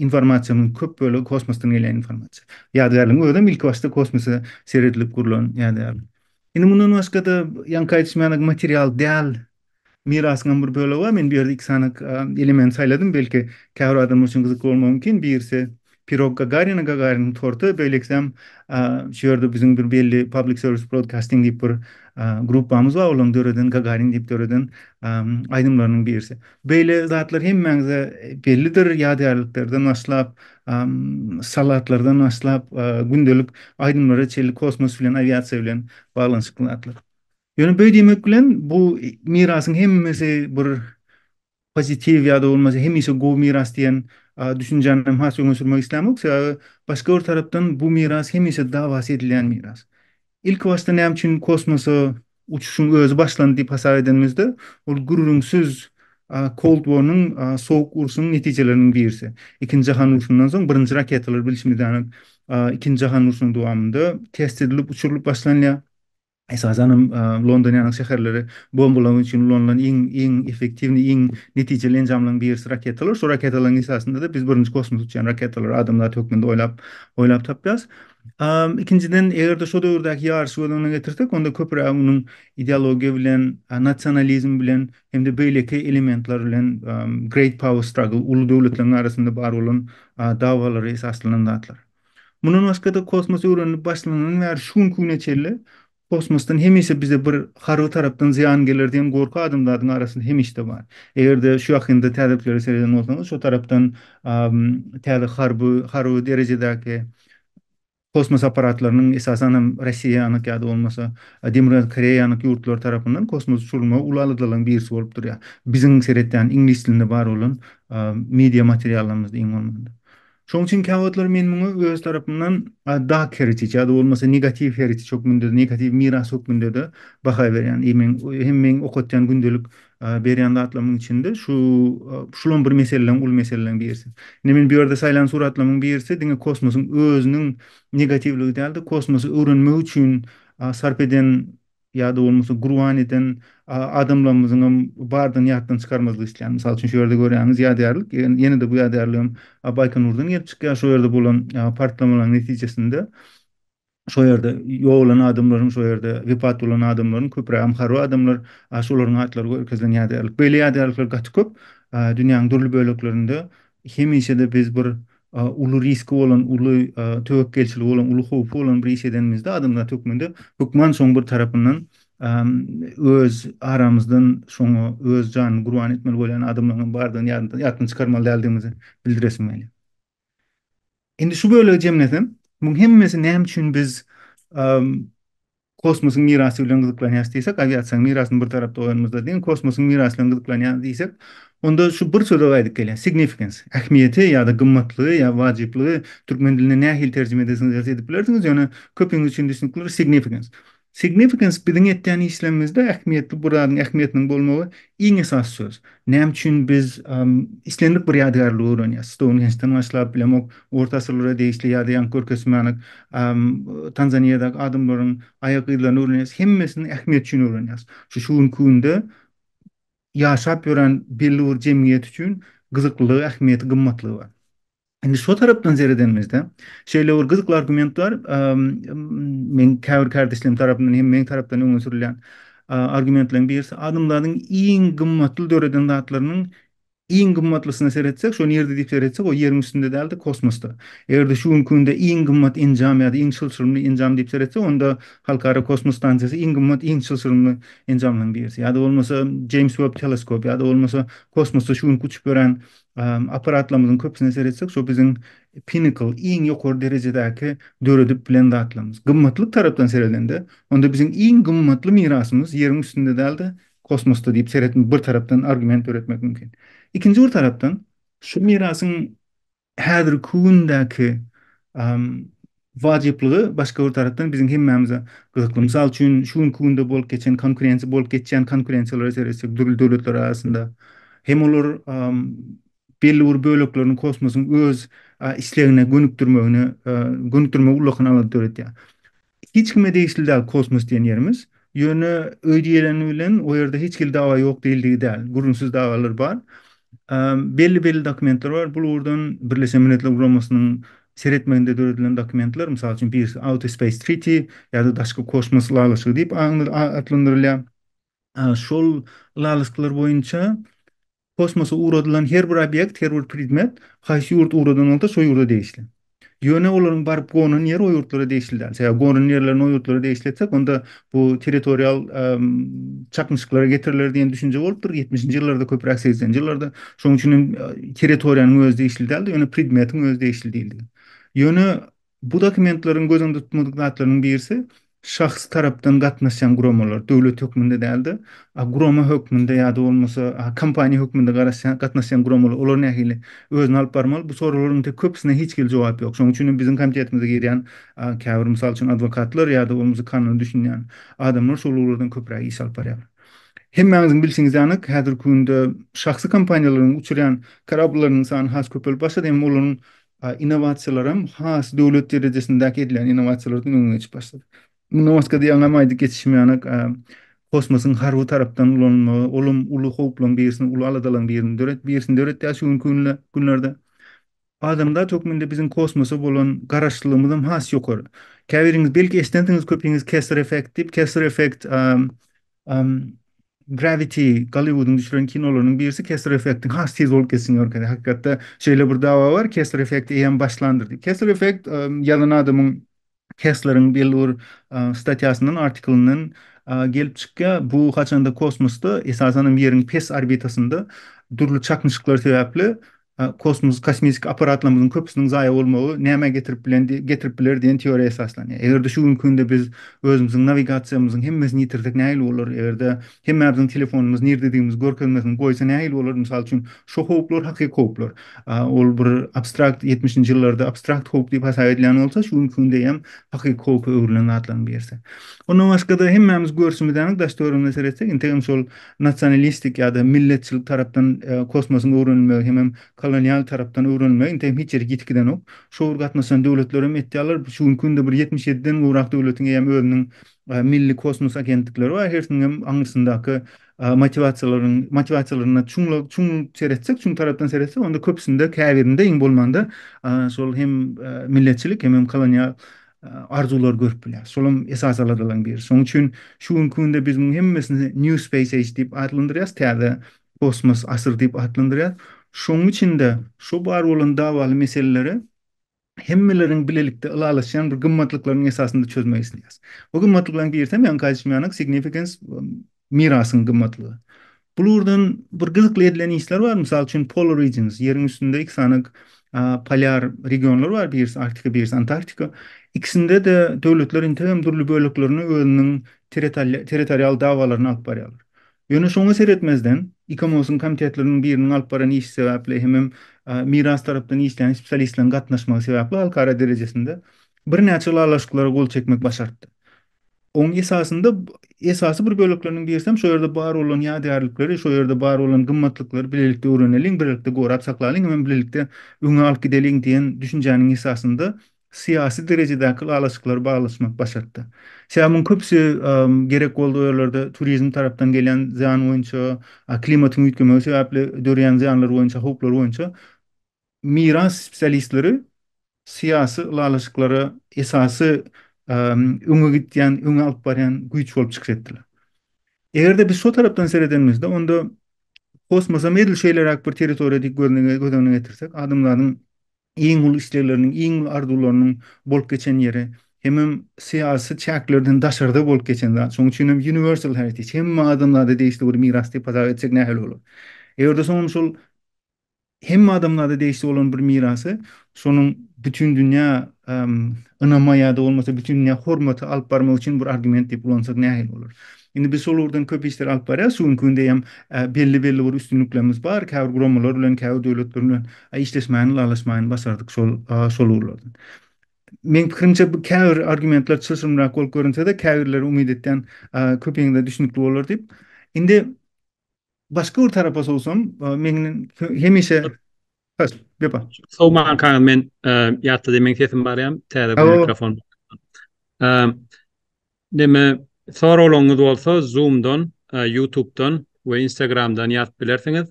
informasiýamyzyň köp bölegi kosmosdan gelýän informasiýa. Ýadygärligiň özem ilkibaşda kosmose seredilip gurlan ýadygärlik. Indi mundan başga-da ýaňky aýdyşym ýaly material däl mirasyňam bir bölegi bar. Men bu ýerde iki sany element saýladym, belki käbir adamlar üçin gyzykly bolmagy mümkin. Birisi Pirog Gagarina, Gagariniň torty, beýlekisem şu ýerde biziň bir belli Public Service Broadcasting diýip bir gruppamyz bar, olaryň döreden Gagarin diýip döreden aýdymlarynyň birisi. Beýle zatlar hemmäňize bellidir, ýadygärliklerden başlap, salatlardan başlap, gündelik aýdymlara çenli kosmos bilen, awiasiýa bilen baglanyşykly zatlar. Ýöne beý diýmek bilen bu mirasyň hemmesi bir pozitiw ýa-da bolmasa hemişe gowy miras diýen düşünjäni hem has öňe sürmek islämok. Sebäbi başga bir tarapdan bu miras hemişe dawasy edilýän miras. Ilkibaşda näme üçin kosmosa uçuşyň özi başlandy diýip hasap edenimizde, ol gürrüňsiz Cold War-nyň, Sowuk urşuň netijeleriniň birisi. Ikinji jahan urşundan soň birinji raketalar bilşimiz ýaly Ikinji jahan urşunyň dowamynda test edilip, uçurylyp başlanýar. Esasan hem, London ýaly şäherleri bombalamak üçin ulanylan iň, iň effektiwnyý, iň netijeli enjamlaryň birisi raketalar. Şol raketalaryň esasynda-da biz birinji kosmosa uçýan raketalary adam zat hökmünde oýlap, oýlap tapýarys. Ikinjiden, eger-de şo döwürdäki ýaryşy göz öňüne getirsek, onda köpüräk onuň ideologiýa bilen, nasionalizm bilen hem-de beýleki elementler bilen, great power struggle, uly döwletleriň arasynda bar bolan dawalary esaslanan zatlar. Mundan başga-da, kosmos öwrenilip başlanandan bäri şu günki güne çenli kosmosdan hemişe bize bir harby tarapdan zyýan geler diýen gorky adamzadyň arasynda hemişde bar. Eger-de şu ýakynda täzelikleri sereden bolsaňyz, şo tarapdan täze harby harby derejedäki kosmos apparatlarynyň, esasan hem Rossiýanyňky ýa-da bolmasa Demirgazyk Koreýanyňky ýurtlary tarapyndan kosmosa uçurylmagy uly aladalaryň birisi bolup durýar. Biziň seretýän iňlis dilinde bar bolan media materiallarymyzda iň bolmanda. Şoň üçin käwagtlar men muňa öz tarapymdan dark heritage ýa-da bolmasa negatiw heritage hökmünde, negatiw miras hökmünde-de baha berýän. I meň hem meň okatýan gündelik berýän zatlarymyň içinde şu şulam bir meseleleň uly meseleleň birisi. Indi men bu ýerde saýlan suratlarymyň birisi diňe kosmosyň özüniň negatiwligi däl-de, kosmosy öwrenmek üçin sarp eden ýa-da bolmasa gurban eden adamlarymyzyň hem bardygyny ýatdan çykarmazlyk islän. Mysal üçin, şu ýerde görýäňiz ýadygärlik, ýene-de bu ýadygärlik hem Baýkonurdan gelip çykýar, şo ýerde bolan partlamalaryň netijesinde şo ýerde ýogalan adamlaryň, şo ýerde wepat bolan adamlaryň, köprägem harby adamlar, şolaryň atlary görkezilen ýadygärlik. Beýle ýadygärlikler gaty köp, dünýäniň dürli böleklerinde hemişe-de biz bir uly riski bolan, uly töwekgelçiligi bolan, uly howpy bolan bir iş edenimizde adamzat hökmünde hökman şoň bir tarapyndan öz aramyzdan şoňa öz janyny gurban etmeli bolýan adamlaryň bardygyny ýatdan çykarmaly däldigimizi bildiresim gelýär. Indi şu bölegi jemlesem, muň hemmesi näme üçin biz Kosmosyň mirasy bilen gyzyklanýarys diýsek, awiasiýanyň mirasyny bir tarapda goýanymyzda deň kosmosyň mirasy bilen gyzyklanýarys diýsek, onda şu bir söze gaýdyp gelýär, significance, ähmiýeti ýa-da gymmatlygy ýa wajyplygy türkmen diline nähili terjime edesiňiz gelse edip bilersiňiz, ýöne köpiňiz üçin düşnükli bir significance. Significance biziň etýän işlerimizde ähmiýetli bu zadyň ähmiýetiniň bolmagy iň esasy söz. Näme üçin biz islendik bir ýadygärligi öwrenýäris? Stounhenjden başlap, bilemok, orta asyrlara degişli ýa-da ýaňky görkezmänik Tanzaniýadaky adamlaryň aýak yzlaryny öwrenýäris. Hemmesini ähmiýet üçin öwrenýäris. Şu şu günki günde ýaşap ýören belli bir jemgyýet üçin gyzyklylygy, ähmiýeti, gymmatlygy bar. Indi şo tarapdan seredenimizde, şeýle bir gyzykly argument bar, men käbir kärdeşlerim tarapyndan hem meň tarapdan öňe sürülýän argumentleriň birisi, adamzadyň iň gymmatly döreden zatlarynyň iň gymmatlysyna seretsek, şo nirede diýip seretsek, o Ýeriň üstünde däl-de, kosmosda. Eger-de şu günki günde iň gymmat enjam ýa-da iň çylşyrymly enjam diýip seretsek, onda Halkara kosmos stansiýasy iň gymmat, iň çylşyrymly enjamlaryň birisi. Ýa-da bolmasa Jeýms Web teleskop, ýa-da bolmasa kosmosda şu günki uçup ýören Apparatlarymyzyň köpüsine seretsek, şo biziň pinnacle, iň ýokary derejedäki döredip bilen zatlarymyz. Gymmatlyk tarapdan seredende, onda biziň iň gymmatly mirasymyz Ýeriň üstünde däl-de, kosmosda diýip seretmek, bir tarapdan argument döretmek mümkin. Ikinji bir tarapdan, şu mirasyň häzirki gündäki wajyplygy başga bir tarapdan biziň hemmämize gyzykly. Mysal üçin, şu günki günde bolup geçen konkurensiýa, bolup geçýän konkurensiýalara seretsek, dürli döwletler arasynda hem olar belli bir böleklerini kosmosyň öz islegine gönükdirmegine, gönükdirmegi ullakan alada döredýär. Hiç kime degişli däl kosmos diýen ýerimiz. Ýöne öý diýileni bilen o ýerde hiç hili dawa ýok diýildigi däl. Gürrüňsiz dawalar bar. Belli-belli dokumentler bar. Bu ugurdan Birleşen Milletler Guramasynyň seretmeginde döredilen dokumentler, mysal üçin, birisi Outer Space Treaty ýa-da Daşky kosmos ylalaşygy diýip atlandyrylýar. Şol ylalaşyklar boýunça Kosmosa ugradylan her bir obýekt, her bir predmet haýsy ýurt ugradan bolsa şo ýurda degişli. Ýöne olaryň baryp gonan ýeri o ýurtlara degişli däl. Sebäbi gonan ýerlerini o ýurtlara degişli etsek, onda bu territorial çaknyşyklara getiriler diýen düşünje bolupdyr ýetmişinji ýyllarda köpräk segsenji ýyllarda. Şonuň üçin hem territoriýanyň özi degişli däldi, ýöne predmetiň özi degişli diýildi. Ýöne Bu dokumentleriň göz öňünde tutmadyk zatlarynyň birisi, şahs tarapdan gatnaşýan guramalar, döwlet hökmünde däl-de, gurama hökmünde ýa-da bolmasa kompaniýa hökmünde garaşýan, gatnaşýan guramalar, olar nähili özüni alyp barmaly? Bu soraglaryň tek köpüsine hiç hili jogap ýok. Şonuň üçin hem biziň komitetimize girýän käbir, mysal üçin, adwokatlar ýa-da bolmasa kanuna düşünýän adamlar şol ugurlardan köpräk iş alyp barýarlar. Hemmäňiziň bilşiňiz ýaly, häzirki günde şahsy kompaniýalaryň uçurýan karablileriniň sany has köpelip başlady, emma olaryň A innowasiýalaram has döwlet derejesindäki edilen innowasiýalardan öňe geçip başlady. Mundan başga diýýän aýdyp geçişim ýanak kosmosyň harby tarapdan ulanylmagy, olam uly howplaryň birisini, uly aladalaryň birini döret, birisini döretýär şu günki günde, günlerde. Adamzat hökmünde biziň kosmosa bolan garaşlylygymyzam has ýokary. Käbiriňiz belki eşidensiňiz köpiňiz Kessler effekt diýip, Kessler effekt Gravity Golliwudyň düşüren kinolarynyň birisi Kessler Effektiň has tiz bolup geçişini görkezýär. Hakykatda şeýle bir dawa bar, Kessler Effekt eýýäm başlandyr diýip. Kessler Effekt ýazan adamyň Kessleriň belli bir statýasyndan, artiklyndan gelip çykýar. Bu haçanda kosmosda, esasan hem Ýeriň pes orbitasynda dürli çaknyşyklar sebäpli A Kosmos kosmetik apparatlarymyzyň köpüsiniň zaýa bolmagy nämä getirip bilendi getirip biler diýen teoriýa esaslanýar. Eger-de şu günki günde biz özümiziň nawigasiýamyzyň hemmesini ýitirdik nähili bolar? Eger-de hemmämiziň telefonymyz nirdedigimizi görkezmesini goýsa nähili bolar? Mysal üçin, şu howplar hakyky howplar. A ol bir abstrakt ýetmişinji ýyllarda abstrakt howp diýip hasap edilýän bolsa, şu günki günde hem hakyky howpa öwrülen zatlaryň birisi. Ondan başga-da hemmämiz görşümiz anyk daş-töweregimize seretsek, integem şol nasionalistik ýa-da milletçilik tarapdan kosmosyň öwrenilmegi hemem kolonial tarapdan öwrenilmegi indi hem hiç ýerik ýitgidenok. Şu ugur gatnaşan döwletler hem etýärler. Şu günki günde bir ýetmiş ýediden gowrak döwletiň eýýäm özüniň milli kosmos agentlikleri bar. Hersiniň hem aňyrsyndaky motiwasiýalaryň motiwasiýalaryna çuň çuň seretsek, çuň tarapdan seretsek, onda köpüsinde, käbirinde iň bolmanda şol hem milletçilik hemem kolonial arzuwlary görüp bilýär. Şolam esasy aladalaryň biri. Şonuň üçin şu günki günde biz munuň hemmesini New Space Age diýip atlandyrýarys, täze kosmos asyry diýip atlandyrýarys. Şonuň içinde şu bar bolan dawaly meseleleri hemmeleriň bilelikde ylalaşýan bir gymmatlyklaryň esasynda çözmek isleýäris. Bu gymmatlyklaryň birisi hem ýaňky aýdyşym ýaly signifikens Mirasyň gymmatlygy. Bu ugurdan bir gyzykly edilen işler bar. Mysal üçin, Polar Regions, Ýeriň üstünde iki sany polýar regionlar bar, birisi Arktika, birisi Antarktika. Ikisinde-de döwletler integem dürli böleklerine özüniň territorial dawalaryny alyp barýarlar. Ýöne şoňa seretmezden, ICOMOS-yň komitetleriniň biriniň alyp baran işi sebäpli hemem Miras tarapdan işleýän spesialistleriň gatnaşmagy sebäpli halkara derejesinde birnäçe ylalaşyklara gol çekmek başarypdy. Oň esasynda esasy bir bölekleriniň birisi hem şu ýerde bar bolan ýadygärlikleri, şu ýerde bar bolan gymmatlyklary bilelikde öwreneliň, bilelikde gorap saklalyň hem bilelikde öňe alyp gideliň diýen düşünjäniň esasynda syýasy derejedäki ylalaşyklary baglaşmak başartdy. Sebäbi muň köpüsi gerek boldy o ýerlerde turizm tarapdan gelýän zyýan boýunça, klimatyň üýtgemegi sebäpli dörýän zyýanlar boýunça, howplar boýunça Miras spesialistleri syýasy ylalaşyklara esasy öňe gidýän, öňe alyp barýan güýç bolup çykyş etdiler. Eger-de biz şo tarapdan seredenimizde, onda kosmosam edil şeýleräk bir territoriýa diýip göz öňüne getirsek, adamlaryň iň uly islegleriniň, iň uly arzuwlarynyň bolup geçen ýeri, hemem syýasy çäklerden daşarda bolup geçen zat. Şonuň üçin hem universal heritage, hemme adamlara degişli bir miras diýip hasap etsek nähili bolar? Eger-de soňam şol Hemme adamlarda degişli bolan bir mirasy, şonuň bütindünýä ynama ýa-da bolmasa bütindünýä hormata alyp barmak üçin bir argument diýip ulansak nähili bolar? Indi biz şol ugurdan köp işleri alyp barýarys, şu günki günde hem belli-belli bir üstünliklerimiz bar, käbir guramalar bilen, käbir döwletler bilen işleşmäni, ylalaşmaýyny başardyk şol şol ugurlardan. Meň pikirimçe, bu käbir argumentler çylşyrymrak bolup görünse-de, käbirleri umyt etýän köpüňize düşnükli bolar diýip. Indi Başga bir tarapa sowsam, meň hemişe Hys, gepa. Sowman kaga men ýatda demen sesim barýam, täze bir mikrofon. Deme, soraglaryňyz bolsa Zoom-dan, YouTube-dan we Instagram-dan ýazyp bilersiňiz.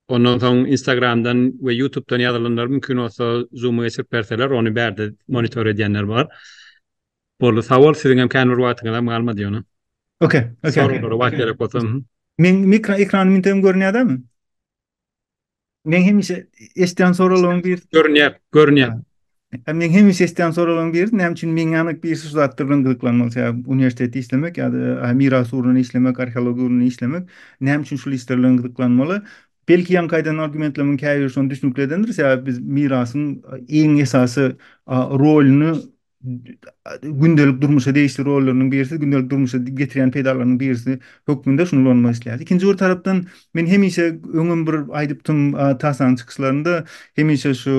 Ondan soň Instagram-dan we YouTube-dan ýazylanlar mümkin bolsa Zoom-a geçirip berseler, ony bärde monitor edýänler bar. Boldy sag bol siziňem kän bir wagtyňyz hem galmady ýöne. Ok ok. Soraglara wagt gerek bolsa. Meň mikro ekrany mintegen görünýädämi? Men hemişe eşdýän soraglaryň bir görünýär, görünýär. Hem men hemişe eşdýän soraglaryň biri näme üçin meň ýanyk bir şu zatda bilen gyzyklanmak sebäp uniwersitetde işlemek ýa-da miras ugrundan işlemek, arheologiýa ugrundan işlemek näme üçin şul işler bilen gyzyklanmaly? Belki ýaňky aýdan argumentlerimiň käbiri şony düşnükli edendir sebäp biz mirasyň iň esasy rolyny gündelik durmuşa degişli rollarynyň birisi, gündelik durmuşa getirýän peýdalarynyň birisi hökmünde şuny ulanmak isleýär. Ikinji bir tarapdan men hemişe öňem bir aýdypdym TASA-nyň çykyşlarynda hemişe şu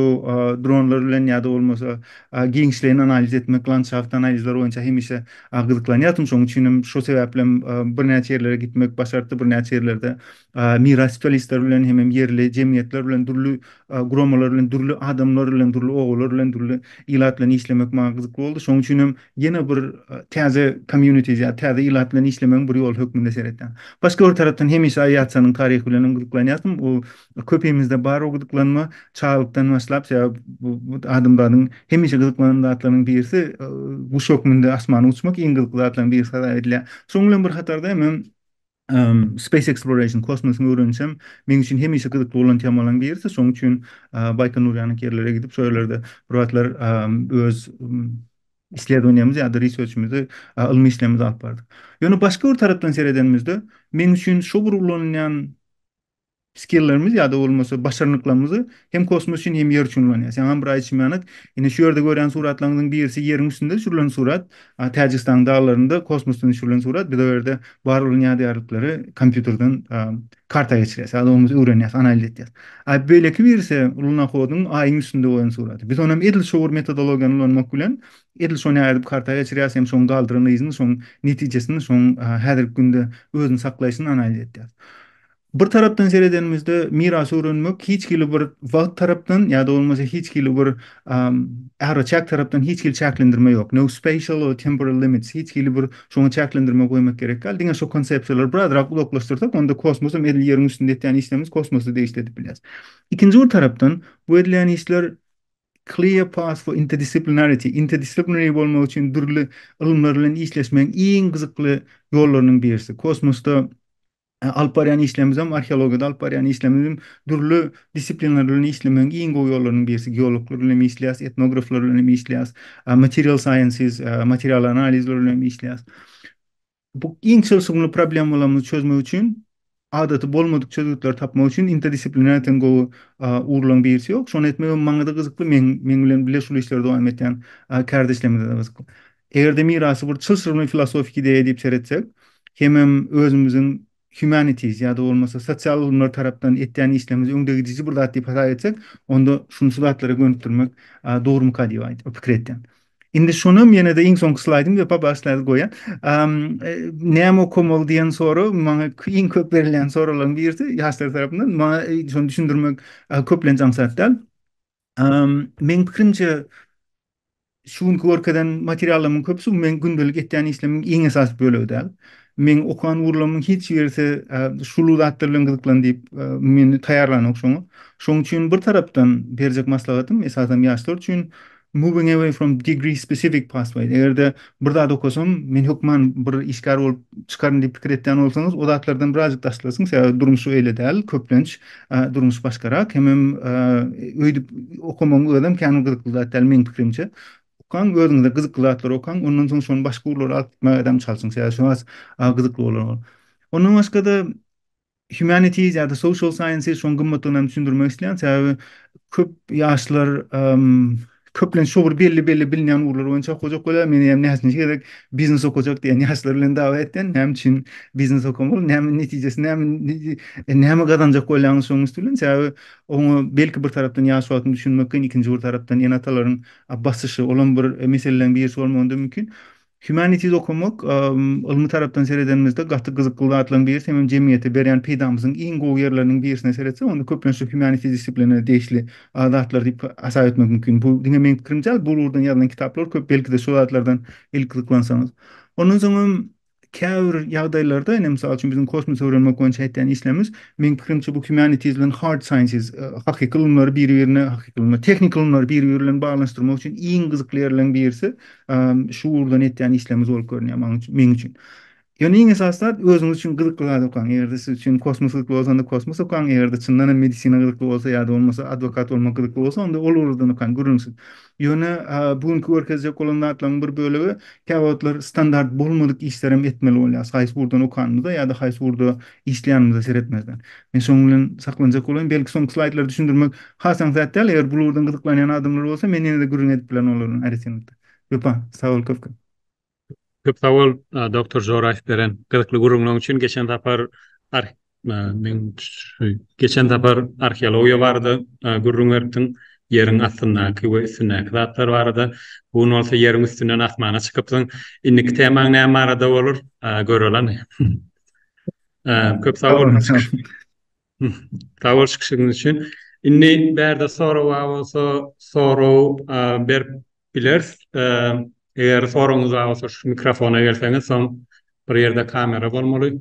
dronlar bilen ýa-da bolmasa giňişleýin analiz etmek, landşaft analizleri boýunça hemişe gyzyklanýardym. Şonuň üçin hem şo sebäplem birnäçe ýerlere gitmek başartdy, birnäçe ýerlerde miraspelisler bilen hemem ýerli jemgyýetler bilen dürli guramalar bilen dürli adamlar bilen dürli obalar bilen dürli ilat bilen işlemek maňa gyzykly boldy şoň üçin hem ýene bir täze community ýa täze ilat bilen işlemegiň bir ýoly hökmünde seretýän başga bir tarapdan hemişe awiasiýanyň taryhy bilen hem gyzyklanýardym bu köpimizde bar o gyzyklanma çaglykdan başlap sebäp bu adamzadyň hemişe gyzyklanan zatlarynyň birisi guş hökmünde asmana uçmak iň gyzykly zatlaryň birisi hasap edilýär şoň bilen bir hatarda hemem Space Exploration, kosmosiň öwrenişi hem meň üçin hemişe gyzykly bolan temalaryň birisi. Şonuň üçin Baýkonur ýanyk ýerlere gidip, şo ýerlerde bir wagtlar öz isledowaniýamyzy ýa-da research-imizi, ylmy işlerimizi alyp bardyk. Ýöne başga bir tarapdan seredenimizde, meň üçin şo bir ulanylýan skillerimiz ýa-da bolmasa başarnyklarymyzy hem kosmos üçin hem ýer üçin ulanýas. Ýaňam bir aýdyşym ýaly, indi şu ýerde görýän suratlaryňyzyň birisi ýeriň üstünde düşürilen surat, a Täjigistanyň daglarynda kosmosdan düşürilen surat, biz o ýerde bar bolan ýadygärlikleri kompýuterden karta geçirýäs ýa-da bolmasa öwrenýäs, analiz etýäs. A beýleki birisi lunohodyň Aýyň üstünde goýan suraty. Biz onam edil şo bir metodologiýany ulanmak bilen edil şony ädip karta geçirýäs hem şoň galdyran yzyny, şoň netijesini, şoň häzirki günde özüni saklaýşyny analiz etýäs. Bir tarapdan seredenimizde mirasy öwrenmek hiç hili bir wagt tarapdan ýa-da bolmasa hiç hili bir araçäk tarapdan hiç hili çäklendirme ýok. No spatial or temporal limits. Hiç hili bir şoňa çäklendirme goýmak gerek däl. Diňe şu konsepsiýalary birazrak uzaklaşdyrsak, onda kosmos hem edil ýeriň üstünde etýän işlerimiz kosmosda degişli edip bilýäris. Ikinji bir tarapdan bu edilýän işler clear path for interdisciplinarity, interdisciplinary bolmak üçin dürli ylymlar bilen işleşmegiň iň gyzykly ýollarynyň birisi. Kosmosda Alyp barýan işlerimizem, arheologiýada alyp barýan işlerimizem dürli disiplinler bilen işlemegiň iň gowy ýollarynyň birisi. Geologlar bilen hem işleýäs, etnograflar bilen hem işleýäs, material sciences, material analizler bilen hem işleýäs. Bu iň çylşyrymly problemalarymyzy çözmek üçin, adaty bolmadyk çözgütleri tapmak üçin interdisiplinariteň gowy ugurlaryň birisi ýok. Şony etmegem maňa-da gyzykly, meň bilen bile şul işleri dowam etýän kärdeşlerimize-de gyzykly. Eger-de mirasy bir çylşyrymly filosofik ideýa diýip seretsek, hemem özümiziň humanities ýa-da bolmasa sosial ylymlar tarapdan etýän işlerimizi öňdegidiji bir zat diýip hasap etsek, onda şuny şu zatlara gönükdirmek dogrumyka diýip aýdyp, pikir etýän. Indi şonam ýene-de iň soňky slaýdym we pobaşlaýyl goýýan. Näme okamaly diýen sora maňa iň köp berilýän sorallaryň birisi ýaşlar tarapyndan. Maňa şony düşündirmek köplenç aňsat däl. Meň pikirimçe, şu günki görkezen materiallarymyň köpüsi bu meň gündelik etýän işlerimiň iň esasy bölegi däl. Meň okan ugurlarymyň hiç birisi şuly zatlar bilen gyzyklan diýip meni taýýarlanok şoňa. Şoň üçin bir tarapdan berjek maslahatym, esasan ýaşlar üçin, moving away from degree specific pathway. Eger-de bir zat okasam, men hökman bir işgär bolup çykaryn diýip pikir etýän bolsaňyz, o zatlardan birazjyk daşlasyň, sebäbi durmuş öýle däl, köplenç durmuş başgarak, hemem öýdüp okamagyň özem kän gyzykly zat däl meň pikirimçe. Okaň, özüňize gyzykly zatlary okaň, ondan soň şony başga ugurlara alyp gitmägedem çalşyň, sebäbi şo has gyzykly bolar ol. Ondan başga-da, Humanities ýa-da social sciences şoň gymmatlygyny hem düşündirmek isleýän. Sebäbi köp ýaşlar köplenç şu bir belli belli bilinýän ugurlar boýunça okajak bolýar. Meni hem näçinji gezek biznes okajak diýen ýaşlar bilen dawa etýän. Näme üçin biznes okamaly? Näme netijesi näme näme gazanjak bolýaňyz şoň üsti bilen? Sebäbi oňa belki bir tarapdan ýaş wagtyň düşünmek kyn, ikinji bir tarapdan ene-atalaryň basyşy, olam bir meseleleriň birisi bolmagyna mümkin. Humanities okamak, ylmy tarapdan seredenimizde gaty gyzykly zatlaryň birisi, hemem jemgyýete berýän peýdamyzyň iň gowy ýerleriniň birisine seretsek, onda köplenç humanities disipliniýa degişli zatlar diýip hasap etmek mümkin. Bu diňe meň pikirim däl, bu ugurdan ýazylan kitaplar köp, belki-de şol zatlardan ilki gyzyklansaňyz. Ondan soň hem käbir ýagdaýlarda, ine, mysal üçin biziň kosmosy öwrenmek boýunça etýän işlerimiz, meň pikirimçe bu humanities bilen hard sciences, hakyky ylymlary biri-birine, hakyky ylymlar, tehnik ylymlary biri-biri bilen baglanyşdyrmak üçin iň gyzykly ýerleriň birisi, Şu ugurdan etýän işlerimiz bolup görünýär maň üçin, meň üçin. Ýöne iň esasy zat özüňiz üçin gyzykly zat okaň. Eger-de siz üçin kosmos gyzykly bolsa, onda kosmos okaň. Eger-de çyndan hem medisina gyzykly bolsa ýa-da bolmasa adwokat bolmak gyzykly bolsa, onda ol ugurdan okaň, gürrüňsiz. Ýöne bu günki görkezjek bolan zatlaryň bir bölegi käwagtlar standart bolmadyk işlerem etmeli bolýarys. Haýsy ugurdan okanymyza ýa-da haýsy ugurda işleýänimize seretmezden. Men şonuň bilen saklanjak bolaýyn, belki soňky slaýdlary düşündirmek has aňsat däl, eger bu ugurdan gyzyklanýan adamlar bolsa, men ýene-de gürrüň edip bilerin olar bilen aýratynlykda. Wepa, sag bol köp-köp! Köp sag bol, doktor Joraýew beren gyzykly gürrüňleň üçin. Geçen sapar ar meň şu geçen sapar arheologiýa barada gürrüň beripdiň, ýeriň astyndaky we üstündäki zatlar barada. Bu gün bolsa ýeriň üstünden asmana çykypsyň. Indiki temaň näme barada bolar, göreli. Köp sag boluň. Sag bol çykyşyňyz üçin. Indi bärde sorag bar bolsa, sorag berip bileris. Eger soragyňyz bar bolsa, şu mikrofona gelseňiz, soň bir ýerde kamera bolmaly,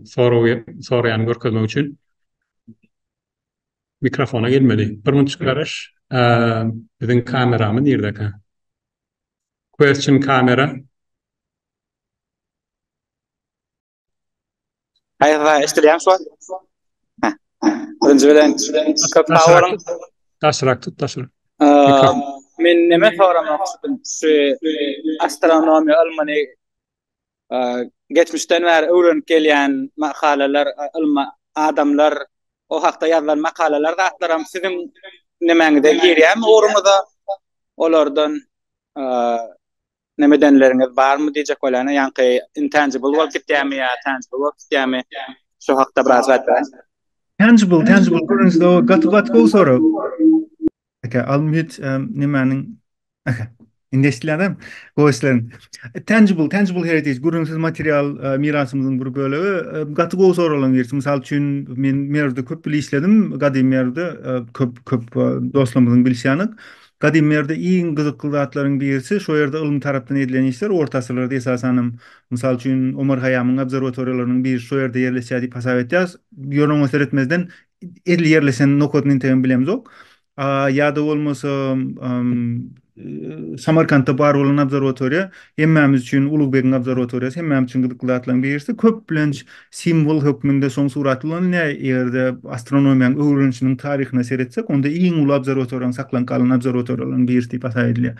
soragy soraýany görkezmek üçin. Mikrofona gelmeli. Bir munçuk garaş. Biziň kameramy nirdeka? Question camera. Hayır hayır eşitýäň şu an? Heh. Birinji bilen köp sag boluň. Daşrak tut daşrak. Men näme soramak istedim? Şu astronomiýa ylmyny geçmişden bäri öwrenip gelýän makalalar, ylma adamlar o hakda ýazylan makalalar zatlaram siziň nemäňize girýärmi ugruňyza? Olardan Näme edenleriňiz barmy diýjek bolýan ýaňky intangible bolup gitýärmi ýa tangible bolup gitýärmi şo hakda biraz aýt bäri. Tangible tangible görünüşde o gaty gaty gowy sorag. Eke al mühit nämäniň Eke indi eşdilýändem gowy işleriň. Tangible tangible heritage görünüşsiz material mirasymyzyň bir bölegi gaty gowy soragyň birisi mysal üçin men Merwde köp ýyl işledim gadymy Merwde köp köp dostlarymyzyň bilişýäni Gadym ýerde iň gyzykly zatlaryň birisi, şo ýerde ylym tarapdan edilen işler orta asyrlarda esasan hem, mysal üçin, Omar Haýýamyň obserwatoriýalarynyň biri şo ýerde ýerleşýär diýip hasap edýäris. Ýöne oňa seretmezden edil ýerleşen nokadyny entegem bilemzok. Ýa-da bolmasa, Samarkantda bar bolan obserwatoriýa hemmämiz üçin Ulugbegiň obserwatoriýasy hemmämiz üçin gyzykly zatlaryň birisi. Köplenç Simwol hökmünde şoň suraty ulanylýar. Eger-de astronomiýanyň öwrenişiniň taryhyna seretsek, onda iň uly obserwatoriýanyň saklanyp galan obserwatoriýalarynyň birisi diýip hasap edilýär.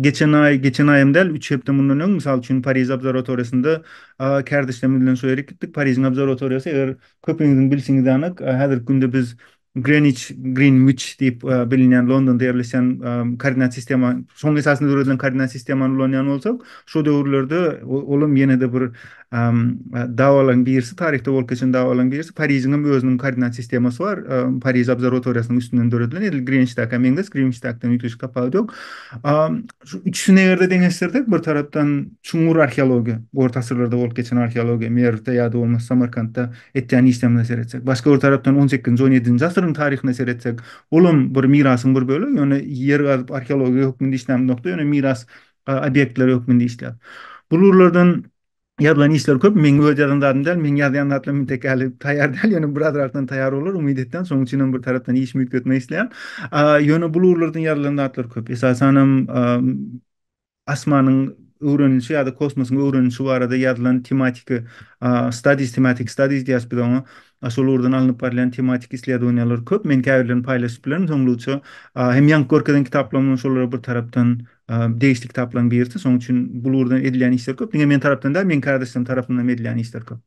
Geçen aý, geçen aý hem däl, üç hepde mundan öň, mysal üçin, Pariž obserwatoriýasynda kärdeşlerimiz bilen şo ýere gitdik. Parižiň obserwatoriýasy, eger köpüňiziň bilşiňiz ýanak, häzirki günde biz Greenwich, Greenwich, diýip bilinýän Londonda ýerleşen koordinat sistema, şonuň esasynda döredilen koordinat sistemany ulanýan bolsak, şo döwürlerde olam ýene-de bir dawalaryň birisi, taryhda bolup geçen dawalaryň birisi, Parižiň hem özüniň koordinat sistemasy bar, Pariž obserwatoriýasynyň üstünden döredilen, edil Greenwiçdäkä meňzeş, Greenwiçdäkiden üýtgeşik tapawudy ýok. Şu üçüsini eger-de deňeşdirsek, bir tarapdan çuňňur arheologiýa, orta asyrlarda bolup geçen arheologiýa, Merwde ýa-da bolmasa Samarkantda etýän işlerimize seretsek, başga bir tarapdan on sekizinji, on ýedinji asyryň taryhyna seretsek, olam bir mirasyň bir bölegi, ýöne ýer gazyp arheologiýa hökmünde işlämizokda, ýöne miras obýektleri hökmünde işläp. Bu lurlardan ýazylan işler köp, meň öz ýazan zadym däl, meň ýazýan zatlarym intek häli taýýar däl, ýöne birazrakdan taýýar bolar, umyt etýän, şonuň üçinem bir tarapdan işimi üýtgetmek isleýän. Ýöne bu lurlardan ýazylan zatlar köp, esasanam. Asmanyň öwrenilişi ýa-da kosmosyň öwrenilişi barada ýazylan tematiki studies, thematic studies diýýäs biz oňa. Şol ugurdan alnyp barylýan tematik isleduaniýalar köp. Men käbirlerini paýlaşyp bilerin soňluça. Hem ýaňky görkezen kitaplarym hem şolara bir tarapdan degişli kitaplaryň birisi. Şonuň üçin bul ugurdan edilýän işler köp. Diňe men tarapdan däl, meň kärdeşlerim tarapyndanam edilýän işler köp.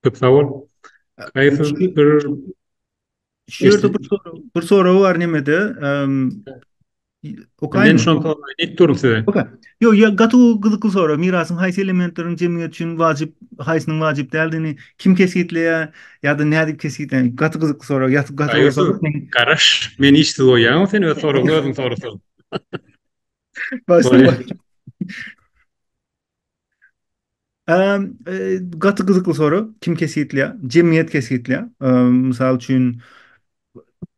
Köp sag bol. Haýsyz bir Şu ýerde bir sorag, bir sorag bar nemede. Okaýmy? Men şol soragy aýdyp durun size. Oka. Ýok, ýa gaty gyzykly sorag. Mirasyň haýsy elementleriň jemgyýet üçin wajyp, haýsynyň wajyp däldigini kim kesgitleýär ýa-da nädip kesgitleýär? Gaty gyzykly sorag. Ýa gaty gyzykly sorag. Garaş, men işsiz goýýaňmy sen öz soragyňy özüň sorasaň. Başdan. Gaty gyzykly sorag. Kim kesgitleýär? Jemgyýet kesgitleýär. Mysal üçin,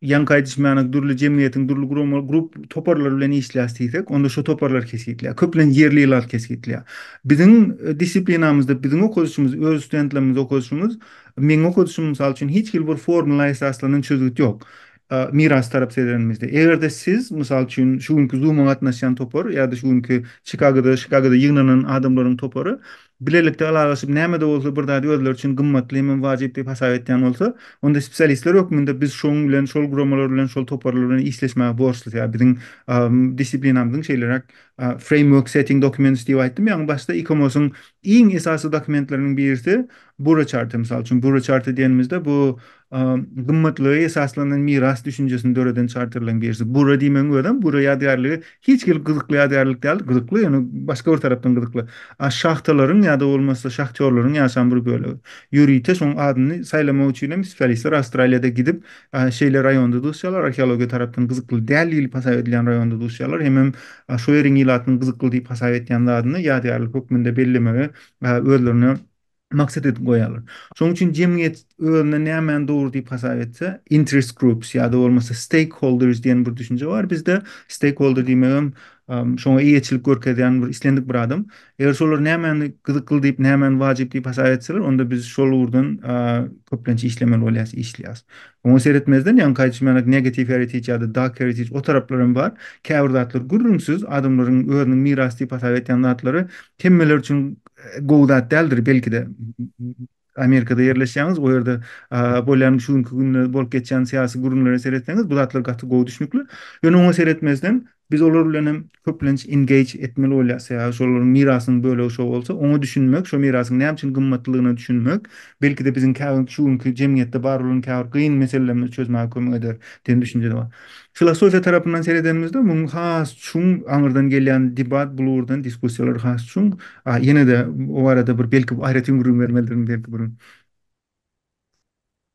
ýaňky aýdyşym ýaly dürli jemgyýetiň dürli guramalar, grup toparlar bilen işleýäs diýsek, onda şo toparlar kesgitleýär. Köplenç ýerli ilat kesgitleýär. Biziň disiplinamyzda biziň okadyşymyz, öz studentlerimiz okadyşymyz, meň okadyşym mysal üçin hiç hili bir formula esaslanan çözgüt ýok. miras tarap seredeniňizde, eger-de siz, mysal üçin, şu günki Zoom-a gatnaşýan topar ýa-da şu günki Çikagoda, Şikagoda ýygnanan adamlaryň topary bilelikde ylalaşyp, näme-de bolsa bir zady özleri üçin gymmatly hemem wajyp diýip hasap etýän bolsa, onda spesialistler hökmünde biz şoň bilen, şol guramalar bilen, şol toparlar bilen işleşmäge borçlus. Ýa biziň disiplinamyzyň şeýleräk framework setting documents diýip aýtdym, ýagny başda ICOMOS-yň iň esasy dokumentleriniň birisi Bura Chart-y, mysal üçin, Bura Chart-y diýenimizde bu gymmatlyga esaslanan miras düşünjesini döreden çarterleň birisi. Bura diýmegiň özem Bura ýadygärligi hiç gelip gyzykly ýadygärlik däl, gyzykly, ýöne başga bir tarapdan gyzykly. A şahtalaryň ýa-da bolmasa şahtýorlaryň ýaşan bir bölegi. Ýörite şoň adyny saýlamak üçin hem spesialistler Awstraliýada gidip, şeýle raýonda duşýarlar, arheologiýa tarapdan gyzykly däl diýlip hasap edilýän raýonda duşýarlar, hemem şo ýeriň ilatynyň gyzykly diýip hasap etýän zadyny ýadygärlik hökmünde bellemegi özlerine maksat edip goýarlar. Şonuň üçin jemgyýet özüne nämäni dogry diýip hasap etse, interest groups ýa-da bolmasa stakeholders diýen bir düşünje bar bizde. Stakeholder diýmek hem şoňa eýeçilik görkezýän bir islendik bir adam. Eger şolar nämäni gyzykly diýip, nämäni wajyp diýip hasap etseler, onda biz şol ugurdan köplenç işlemeli bolýas, işleýäs. Oňa seretmezden, ýaňky aýdyşym ýaly negative heritage ýa-da dark heritage o taraplar hem bar. Käbir zatlar gürrüňsiz adamlaryň özüniň mirasy diýip hasap etýän zatlary hemmeler üçin gowy zat däldir belki-de. Amerikada ýerleşýäňiz, o ýerde bolýan şu günki günde bolup geçýän syýasy gürrüňlere seretseňiz, bu zatlar gaty gowy düşnükli. Ýöne oňa seretmezden, biz olar bilen hem köplenç engage etmeli bolýarys, sebäbi şolaryň mirasynyň bölegi şo bolsa, oňa düşünmek, şo mirasyň näme üçin gymmatlydygyna düşünmek, belki-de biziň şu günki jemgyýetde bar bolan käbir kyn meselelerimizi çözmäge kömek eder diýen düşünje-de bar. Filosofiýa tarapyndan seredenimizde muň has çuň aňyrdan gelýän debat bu ugurdan diskussiýalar has çuň. A ýene-de o barada bir belki aýratyn gürrüň bermelidirin belki bir gün.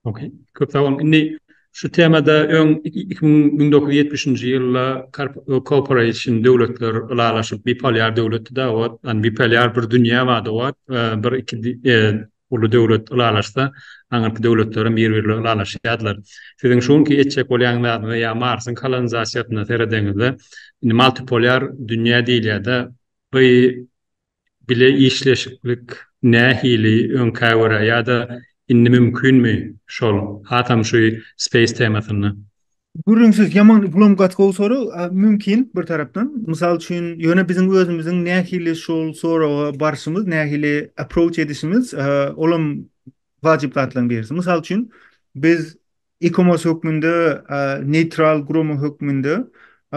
Ok. Köp sag boluň. Indi şu temada öň iki müň müň dokuz ýüz ýetmişinji ýylda Cooperation döwletler ylalaşyp, bipolýar döwletdi-de owat, ony bipolýar bir dünýä bardy owat, bir iki Uly döwlet ylalaşsa, aňyrky döwletler hem bir birle ylalaşýardylar. Siziň şu günki etjek bolýan zadyňyza ýa Marsyň kolonizasiýasyna seredeňizde, indi multipolar dünýä diýilýärde, by bile işleşiklik nähili öňkä görä ýa-da indi mümkinmi şol, hasam şu space temasynda? Gürrüňsiz ýaman yklam gatgowsary mümkin bir tarapdan. Mysal üçin, ýöne biziň özümiziň nähili şol soraga barşymyz, nähili approach edişimiz, olam wajyp zatlaryň birisi. Mysal üçin, biz ECOMOS hökmünde, neýtral gurama hökmünde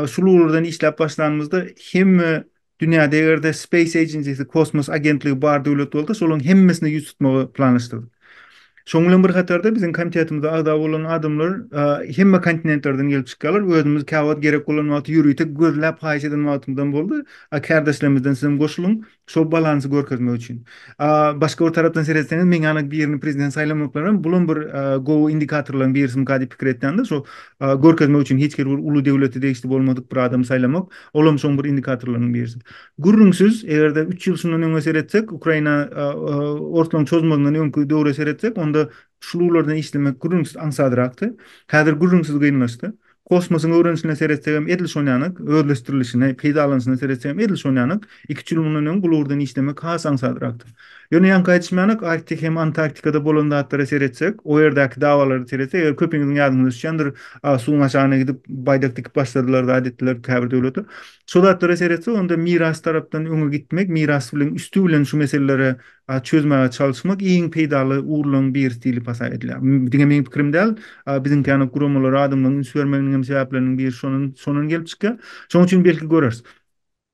şul ugurlardan işläp başlanymyzda hemme Dünýäde eger-de Space Agency-si, Kosmos agentligi bar döwlet bolsa, şolaryň hemmesine ýüz tutmagy planlaşdyrdyk. Şonuň bilen bir hatarda biziň komitetimize agza bolan adamlar hemme kontinentlerden gelip çykýarlar. Özümiz käwagt gerek bolan wagty ýörite gözläp haýyş eden wagtymyzam boldy. A kärdeşlerimizden sizem goşulyň, şol balansy görkezmek üçin. A başga bir tarapdan seretseňiz, meňňälaň birini prezident saýlamaklarynam bulam bir gowy indikatorlaryň birisimikä diýip pikir etýändir. Şo görkezmek üçin hiç hili bir uly döwlete degişli bolmadyk bir adamy saýlamak, ol hem şoň bir indikatorlarynyň birisi. Gürrüňsiz, eger-de üç ýyl şundan öňe seretsek, Ukraina orslaryň çozmazyndan öňki döwre seretsek, onda şul ugurlarda işlemek gürrüňsiz aňsadrakdy. Häzir gürrüňsiz kynlaşdy. Kosmosyň öwrenişine seretsek hem edil şonýanak, özleşdirilişine, peýdalanyşyna seretsek hem edil şonýanak. Iki-üç ýyl mundan öň bul ugurdan işlemek has aňsadrakdyr. Ýöne ýaňky aýdyşymdanok, Arktik hem Antarktikada bolan zatlara seretsek, o ýerdäki dawalara seretsek, eger köpiňiziň ýadyňyza düşýändir, a, suwuň aşagyna gidip, baýdak dikip başladylar zat etdiler käbir döwletler. Şo zatlara seretsek, onda miras tarapdan öňe gitmek, miras bilen üsti bilen şu meseleleri, a, çözmäge çalyşmak iň peýdaly ugurlaryň birisi diýlip hasap edilýär. Diňe meň pikirim däl, a, biziňkäna guramalara adamlaryň üns bermeginiň hem sebäpleriniň biri şondan, şondan gelip çykýar. Şonuň üçin belki göreris.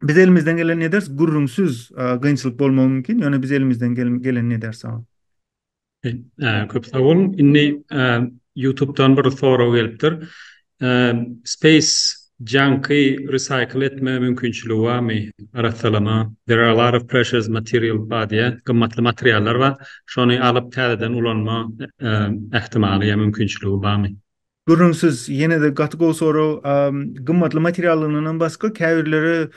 Biz elimizden gelenini eders, gürrüňsiz gynçylyk bolmagy mümkin, ýöne biz elimizden gelenini eders. Köp sag boluň. Indi YouTube-dan bir sorag gelipdir. Space junk-y recycle etme mümkinçiligi barmy? Arassalama. There are a lot of precious material body, gymmatly materiallar bar. Şony alyp täzeden ulanma ähtimaly ýa mümkinçiligi barmy? Gürrüňsiz, ýene-de gaty gowy sorag. Gymmatly materiallygyndanam basga käbirleri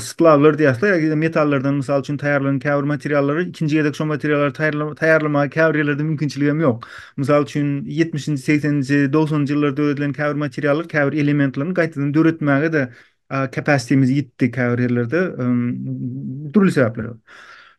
splawlar diýýäsler, ýa-da metallardan mysal üçin taýýarlanan käbir materiallary ikinji gezek şo materiallary taýýarlamaga käbir ýerlerde mümkinçilik hem ýok. Mysal üçin, ýetmişinji, segseninji, dogsanynjy ýyllarda döredilen käbir materiallar, käbir elementlerini gaýtadan döretmäge-de capacity-miz ýitdi käbir ýerlerde, dürli sebäpler bar.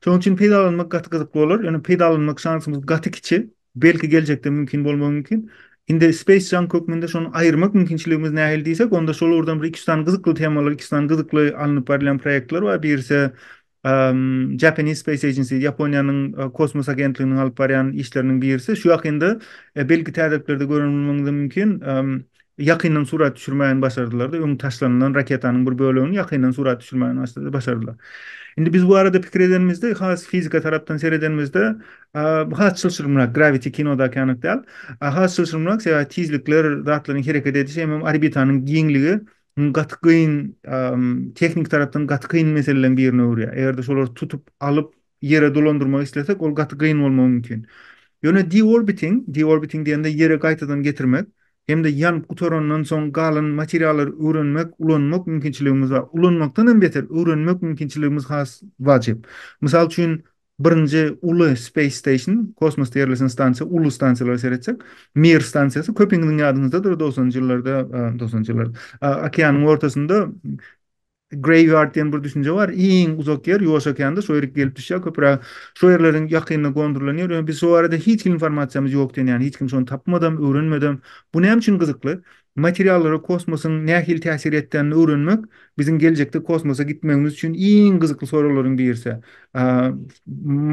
Şonuň üçin peýdalanmak gaty gyzykly bolar, ýöne peýdalanmak şansymyz gaty kiçi. Belki geljekde mümkin bolmagy mümkin. Indi Space Junk hökmünde şony aýyrmak mümkinçiligimiz nähili diýsek, onda şol ugurdan bir iki-üç sany gyzykly temalar, iki-üç sany gyzykly alnyp barylýan proýektler bar. Birisi Japanese Space Agency, Ýaponiýanyň kosmos agentliginiň alyp barýan işleriniň birisi. Şu ýakynda belki täzeliklerde gören bolmagyňyz hem mümkin. ýakyndan surat düşürmäni başardylar-da, öň taşlanylan raketanyň bir bölegini ýakyndan surat düşürmäni başardylar. Indi biz bu barada pikir edenimizde, has fizika tarapdan seredenimizde, has çylşyrymrak, gravity kinodaky ýanak däl, has çylşyrymrak, sebäbi tizlikler, zatlaryň hereket edişi, hemem orbitanyň giňligi gaty kyn, tehniki tarapdan gaty kyn meseleleriň birine öwürýär. Eger-de şolary tutup alyp, Ýere dolandyrmak islesek, ol gaty gyn bolmagy mümkin. Ýöne deorbiting, deorbiting diýende Ýere gaýtadan getirmek, hem-de ýanyp gutarandan soň galan materiallary öwrenmek, ulanmak mümkinçiligimiz bar. Ulanmakdan hem beter, öwrenmek mümkinçiligimiz has wajyp. Mysal üçin, birinji uly Space Station, kosmosda ýerleşen stansiýa, uly stansiýalara seretsek, Mir stansiýasy, köpiňiziň ýadyňyzdadyr, dogsanjy ýyllarda, dogsanjy ýyllarda, okeanyň ortasynda Graveyard diýen bir düşünje bar. Iň uzak ýer Ýuwaş okeanda, şo ýerik gelip düşýär köpüräk. Şo ýerleriň ýakynda gondurylan ýer. Ýöne biz şo barada hiç hili informasiýamyz ýok diýen ýaly. Hiç kim şony tapmadam, öwrenmedem. Bu näme üçin gyzykly? Materiallara kosmosyň nähili täsir etdänini öwrenmek biziň geljekde kosmosa gitmegimiz üçin iň gyzykly soraglaryň birisi.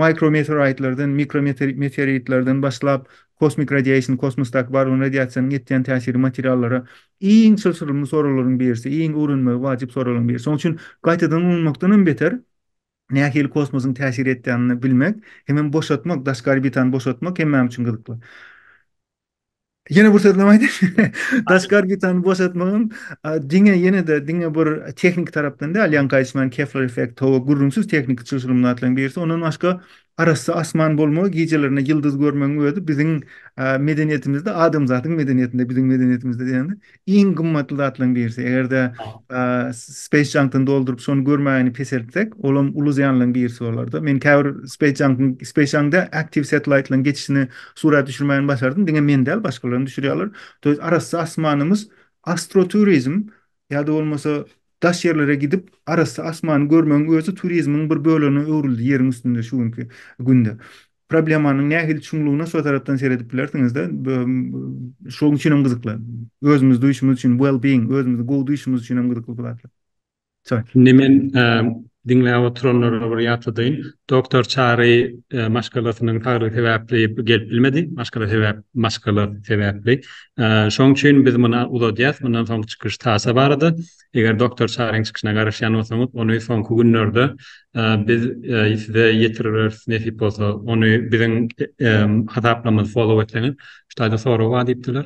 Mikrometeoraýtlardan, mikrometeoritlerden başlap, kosmik radiation, kosmosdaky bar bolan radiasiýanyň etýän täsiri materiallara Iň çylşyrymly soraglaryň birisi, iň öwrenmegi wajyp soraglaryň birisi. Şonuň üçin gaýtadan ulanmakdan hem beter, nähili kosmosyň täsir etýänini bilmek, hemem boşatmak, daşky orbitany boşatmak hemmämiz üçin gyzykly. Ýene bir sözlem aýdaýyn. Daşky orbitany boşatmak hem diňe ýene-de diňe bir tehniki tarapdan däl, ýaňky aýdyşym ýaly Kepler effekti, howa gürrüňsiz tehniki çylşyrymly zatlaryň birisi. Ondan başga Arassa asman bolmagy, gijelerine ýyldyz görmegiň özi biziň medeniýetimizde, adamzadyň medeniýetinde, biziň medeniýetimizde diýende, iň gymmatly zatlaryň birisi. Eger-de Space Junk-dan dolduryp, şony görmäni peseltsek, olam uly zyýanlaryň birisi bolar-da. Men käbir Space Junk-yň, Space Junk däl, Active Satellite-laryň geçişini surat düşürmäni başardym. Diňe men däl, başgalaram düşürýärler. Arassa asmanymyz, astroturizm, Ýa-da bolmasa, daş ýerlere gidip, arassa asmany görmegiň özi turizmiň bir bölegine öwrüldi ýeriň üstünde şu günki günde. Problemanyň nähili çuňlugyna şo tarapdan seredip bilersiňiz-de. Şonuň üçin hem gyzykly. Özümizi duýuşymyz üçin, well-being, özümizi gowy duýuşymyz üçin hem gyzykly bu zatlar. Çyn. Indi men Diňläp oturanlara bir ýatladaýyn. Doktor Çary maşgalasynyň saglygy sebäpli gelip bilmedi. Maşgala sebäp, maşgala sebäpli. Şoň üçin biz muny uzadýas. Mundan soňky çykyş Sasa barada. Eger doktor Çaryň çykyşyna garaşýan bolsaňyz, ony soňky günlerde biz size ýetiriberis nesip bolsa. Ony biziň hasaplarymyzy follow etseňiz. Şu taýda sorag bar diýipdiler.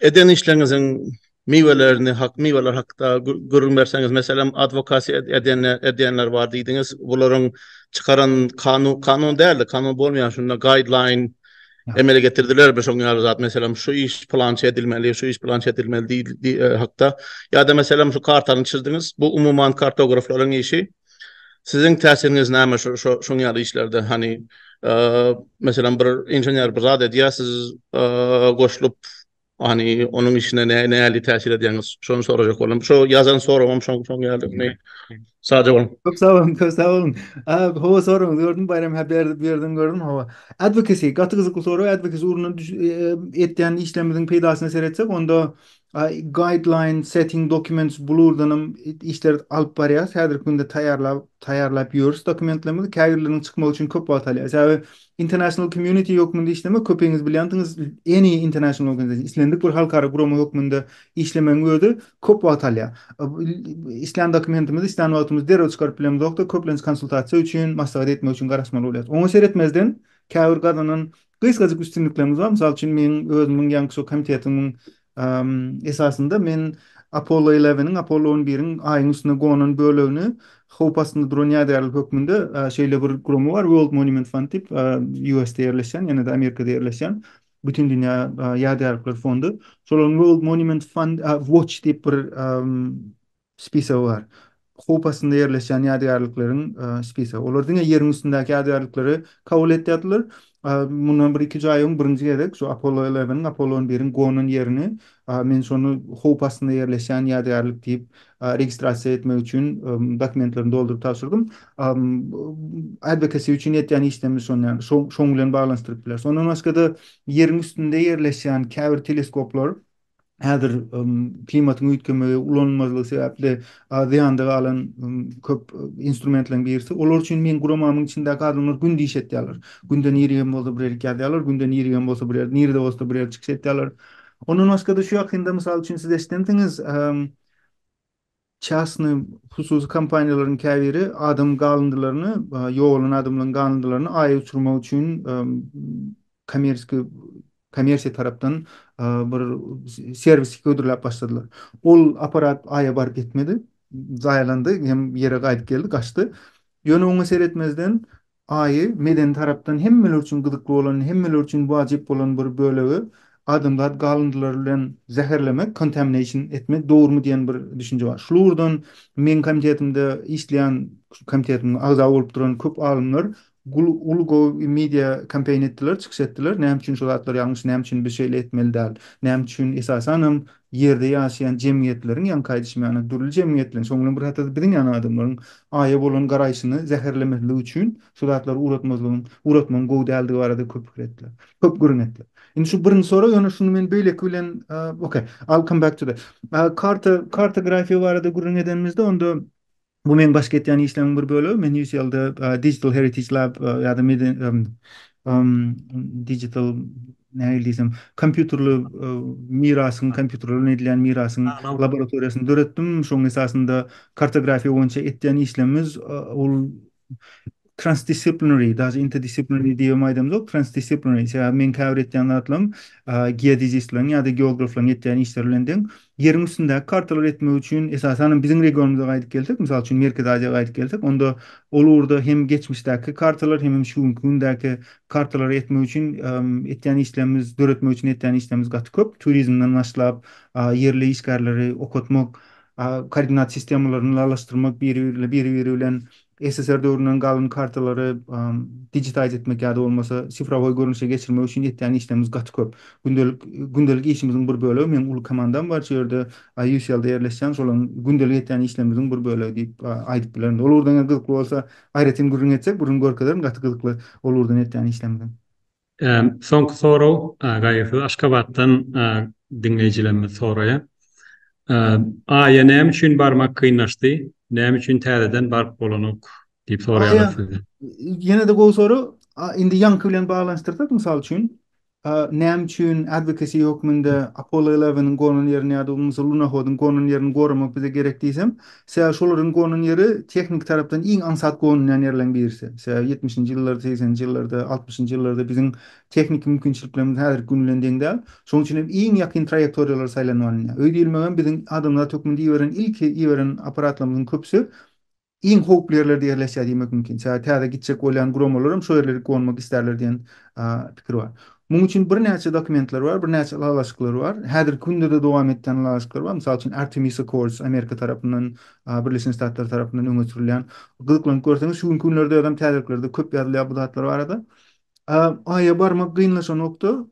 Eden işleriňiziň miwelerini, hak miweler hakda gürrüň berseňiz, meselem, adwokasiýa ed, edene, edýänler bar diýdiňiz. Bularyň çykaran kanun, kanun däl-de, kanun bolmaýan şunda guideline emele getirdilermi şoň ýaly zat, meselem, şu iş pylança edilmeli, şu iş pylança edilmeli diý, diý, e, hakda. Ýa-da, meselem, şu kartany çyzdyňyz, bu umuman kartograflaryň işi, Siziň täsiriňiz näme şu şuň ýaly işlerde? Hany, meselem, bir inžener bir zat edýär, siz goşulyp, hany, onuň işine nähili täsir edýäňiz? Şony sorajak boldum. Şu ýazan soragym şoň şoň ýaly. Sag boluň. Köp sag boluň, köp sag boluň. Hawa, soragyňyzy gördüm, Baýram hä berdi, berdiňi gördüm. Hawa. Advocacy, gaty gyzykly sorag. Advocacy ugrundan edýän işlerimiziň peýdasyna seretsek, onda Guideline Setting Documents Blurdanam işler alyp barýarys. Häzirki günde taýýarlap, taýýarlap ýörüs dokumentlerimizi. Käbirleriniň çykmagy üçin köp wagt alýar. Sebäbi International Community hökmünde işlemek, köpiňiz bilýänsiňiz, any international organization, islendik bir halkara gurama hökmünde işlemegiň özi köp wagt alýar. Islän dokumentimizi islän wagtymyz derrew çykaryp bilemizok-da, köplenç konsultasiýa üçin, maslahat etmek üçin garaşmaly bolýarys. Oňa seretmezden, käbir gazanan Gysgajyk üstünliklerimiz bar. Mysal üçin, meň özümiň Ýangçžou komitetiniň esasynda men Apollo Eleweniň, Apollo on biriň Aýyň üstüne gonan bölegini howp astynda duran ýadygärlik hökmünde şeýle bir gurama bar, World Monument Fund diýip, US-de ýerleşýän, ýene-de Amerikada ýerleşýän Bütindünýä ýadygärlikler fondy. Şolaryň World Monument Fund Watch diýip bir Spisagy bar. Howp astynda ýerleşýän ýadygärlikleriň spisagy. Olar diňe ýeriň üstündäki ýadygärlikleri kabul etýärdiler. Mundan bir-iki üç aý öň birinji gezek şu Apollo Eleweniň, Apollo on biriň gonan ýerini men şony howp astynda ýerleşýän ýadygärlik diýip registrasiýa etmek üçin dokumentlerini dolduryp tabşyrdym. Advocacy üçin etýän işlerimiz şony ýaly. Şoň bilen baglanyşdyryp bileris. Ondan başga-da ýeriň üstünde ýerleşýän käbir teleskoplar, häzir klimatyň üýtgemegi, ulanylmazlygy sebäpli zyýanda galan köp instrumentleriň birisi. Olar üçin meň guramamyň içindäki adamlar günde iş etýärler. Günde nirä hem bolsa bir ýerlik ýazýarlar, günde nirä hem bolsa bir ýerde, nirede bolsa bir ýerde çykyş etýärler. Ondan başga-da şu ýakynda, mysal üçin, siz eşidensiňiz, Çäsny, hususy kompaniýalaryň käbiri adam galyndylaryny, ýogalan adamlaryň galyndylaryny Aýa uçurmak üçin kommersiýa kommersiýa tarapdan bir serwisi hödürläp başladylar. Ol apparat Aýa baryp ýetmedi. Zaýalandy hem ýere gaýdyp geldi, gaçdy. Ýöne oňa seretmezden, Aýy, medeni tarapdan hemmeler üçin gyzykly bolan, hemmeler üçin wajyp bolan bir bölegi adamzat galyndylary bilen zäherlemek, contamination etmek dogrumy diýen bir düşünje bar. Şul ugurdan meň komitetimde işleýän, şu komitetimiň agza bolup duran köp alymlar gul uly gowy bir media kampaniýa etdiler, çykyş etdiler, näme üçin şu zatlar ýalňyş, näme üçin biz şeýle etmeli däl, näme üçin esasanam Ýerde ýaşaýan jemgyýetleriň, ýaňky aýdyşym ýaly, dürli jemgyýetleriň, şoň bilen bir hatarda biziň ýaly adamlaryň Aýa bolan garaýşyny zäherlemezlik üçin şu zatlary uratmazlygyň, uratmagyň gowy däldigi barada köp pikir etdiler. Köp gürrüň etdiler. Indi şu birinji sorag, ýöne şuny men beýleki bilen, okay, I'll come back to that. Karta, kartografiýa barada gürrüň edenimizde, onda Bu meň baş ketýän işleriň bir bölegi. Men UCL-de Digital Heritage Lab ýa-da digital nähili diýsem, kompýuterli mirasyň, kompýuterlerden edilýän mirasyň laboratoriýasyny döretdim. Şonuň esasynda kartografiýa boýunça etýän işlerimiz ol Transdisciplinary, daže interdisciplinary diýibem aýdamzok, transdisciplinary, sebäbi meň käbir etýän zatlarym geodezistleriň ýa-da geograflaryň etýän işleri bilen deň. Ýeriň üstündäki kartalary etmek üçin, esasan hem biziň regionymyza gaýdyp gelsek, mysal üçin Merkezi Aziýa gaýdyp gelsek, onda ol ugurda hem geçmişdäki kartalar, hemem şu günki gündäki kartalary etmek üçin etýän işlerimiz, döretmek üçin etýän işlerimiz gaty köp. Turizmden başlap, ýerli işgärleri okatmak, koordinat sistemalaryny lalaşdyrmak, biri-biri bilen SSR döwründen galan kartalary digitize etmek ýa-da bolmasa sifrowoý görnüşe geçirmek üçin etýän işlerimiz gaty köp. Gündelik gündelik işimiziň bir bölegi, meň uly komandam bar şu ýerde, UCL-de ýerleşýän, şolaryň gündelik etýän işlerimiziň bir bölegi diýip aýdyp bilerin. Ol ugurdan eger gyzykly bolsa, aýratyn gürrüň etsek, gürrüň görkezerin, gaty gyzykly ol ugurdan etýän işlerimiziň. Soňky sorag Gaýgysyz Aşgabatdan diňleýjilerimiz soraýar. Aýa näme üçin barmak kynlaşdy? Näme üçin täzeden baryp bolanok? diýip soraýarlar sizden. Ýene-de gowy sorag. Indi ýaňky bilen baglanyşdyrsak, mysal üçin, näme üçin advocacy hökmünde Apollo Eleven-iň gonan ýerini ýa-da bolmasa Lunohod-yň gonan ýerini goramak bize gerek diýsem, Sebäbi şol ýeriň gonan ýeri tehniki tarapdan iň aňsat gonulýan ýerleriň birisi. Sebäbi ýetmişinji ýyllarda, segseninji ýyllarda, altmyşynjy ýyllarda biziň tehniki mümkinçiliklerimiz häzirki gün bilen deň däl. Şonuň üçin hem iň ýakyn traýektoriýalar saýlanyp alynýar. Öý diýilmek hem biziň adamzat hökmünde iberen ilki iberen apparatlarymyzyň köpüsi iň howply ýerlerde ýerleşýär diýmek mümkin. Sebäbi täze gitjek bolýan guramalaram şo ýerlere gonmak isterler diýen pikir bar. Munuň üçin birnäçe dokumentler bar, birnäçe ylalaşyklar bar. Häzirki günde-de dowam etýän ylalaşyklar bar. Mysal üçin, Artemis Accords, Amerika tarapyndan, Birleşen Ştatlar tarapyndan öňe sürülýän. Gyzyklanyp görseňiz, şu günki günlerde özem täzeliklerde köp ýazylýar bu zatlar barada. Aýa barmak gynlaşanokda,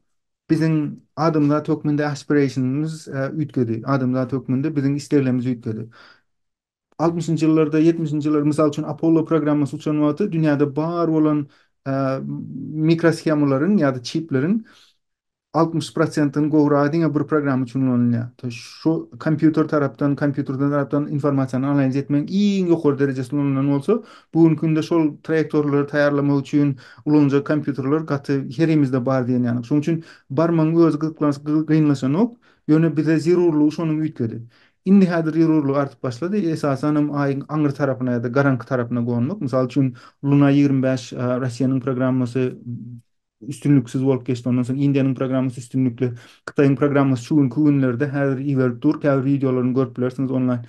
biziň adamzat hökmünde aspirationymyz üýtgedi. Adamzat hökmünde biziň isleglerimiz üýtgedi. altmyşynjy ýyllarda, ýetmişinji ýyllarda, mysal üçin, Apollo programmasy uçan wagty dünýäde bar bolan mikroshemalaryň ýa-da çipleriň altmyş prosentinden gowragy diňe bir programma üçin ulanylýar. To şu kompýuter tarapdan, kompýuter tarapdan informasiýany analiz etmegiň iň ýokary derejesinde ulanylan bolsa, bu günki günde şol traýektorlary taýýarlamak üçin ulanyljak kompýuterler gaty herimizde bar diýen ýaly. Şonuň üçin barmagyň özi gyzyklanç, gyzykly, gynlaşanok, ýöne bize zerurlygy şonuň üýtgedi. Indi häzir zerurlyk artyp başlady, esasanam Aýyň aňry tarapyna ýa-da garaňky tarapyna gonmak. Mysal üçin, Luna ýigrimi bäş Russiýanyň programmasy üstünliksiz bolup geçdi, ondan soň Indiýanyň programmasy üstünlikli, Hytaýyň programmasy şu günki günlerde häzir iberip dur, käbir wideolaryny görüp bilersiňiz onlaýn.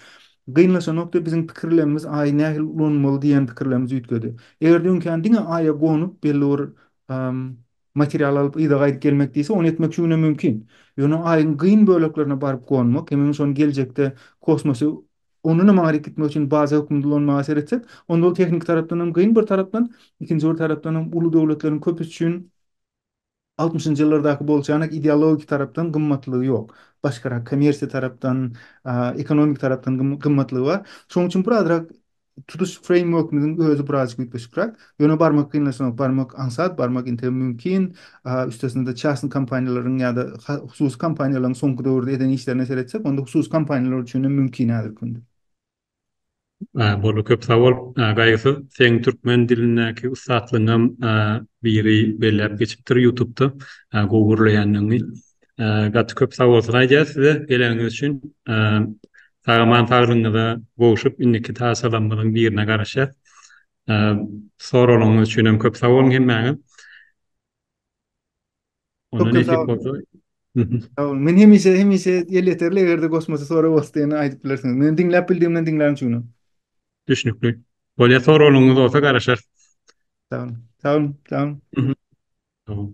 Gynlaşan nokda biziň pikirlemimiz Aýy nähili ulanmaly diýen pikirlemimiz üýtgedi. Eger-de öňkän diňe Aýa gonup belli bir Material alyp yza gaýdyp gelmek diýse, ony etmek şu günem mümkin. Ýöne Aýyň gyn böleklerine baryp gonmak, hemem şony geljekde kosmosy ondan hem aňryk gitmek üçin baza hökmünde ulanmaga seretsek, onda ol tehniki tarapdan hem gyn bir tarapdan, ikinji bir tarapdan hem uly döwletleriň köpüsi üçin altmyşynjy ýyllardaky bolçanak ideologik tarapdan gymmatlygy ýok. Başgarak kommersiýa tarapdan, ekonomik tarapdan gymmatlygy bar. Şonuň üçin birazrak Tutuş freýmworkimiziň özi birazajyk üýtgeşikräk. Ýöne barmak kynlaşanok. Barmak aňsat, barmak entegem mümkin. Üstesine-de çasny kompaniýalaryň ýa-da hususy kompaniýalaryň soňky döwürde eden işlerine seretsek, onda hususy kompaniýalar üçin hem mümkin häzirki günde. Boldy, köp sag bol. Gaýgysyz, seň türkmen dilindäki ussatlygyňam biri belläp geçipdir ýutubda gowy gürleýänligiňi. Gaty köp sag bolsun aýdýas size, geläniňiz üçin. Sag aman saglygyňyza gowşup indiki tasalamyzyň birine garaşýas. Soraglaryňyz üçin hem köp sag boluň hemmäňiz. Onda nesip bolsa. Men hemişe hemişe elýeterli egerde goşmaça sorag bolsa ýene aýdyp bilersiňiz. Men diňläp bildigimden diňlän üçin. Düşnükli. Bolýa soraglaryňyz bolsa garaşarys. Sag boluň. Sag boluň. Sag boluň.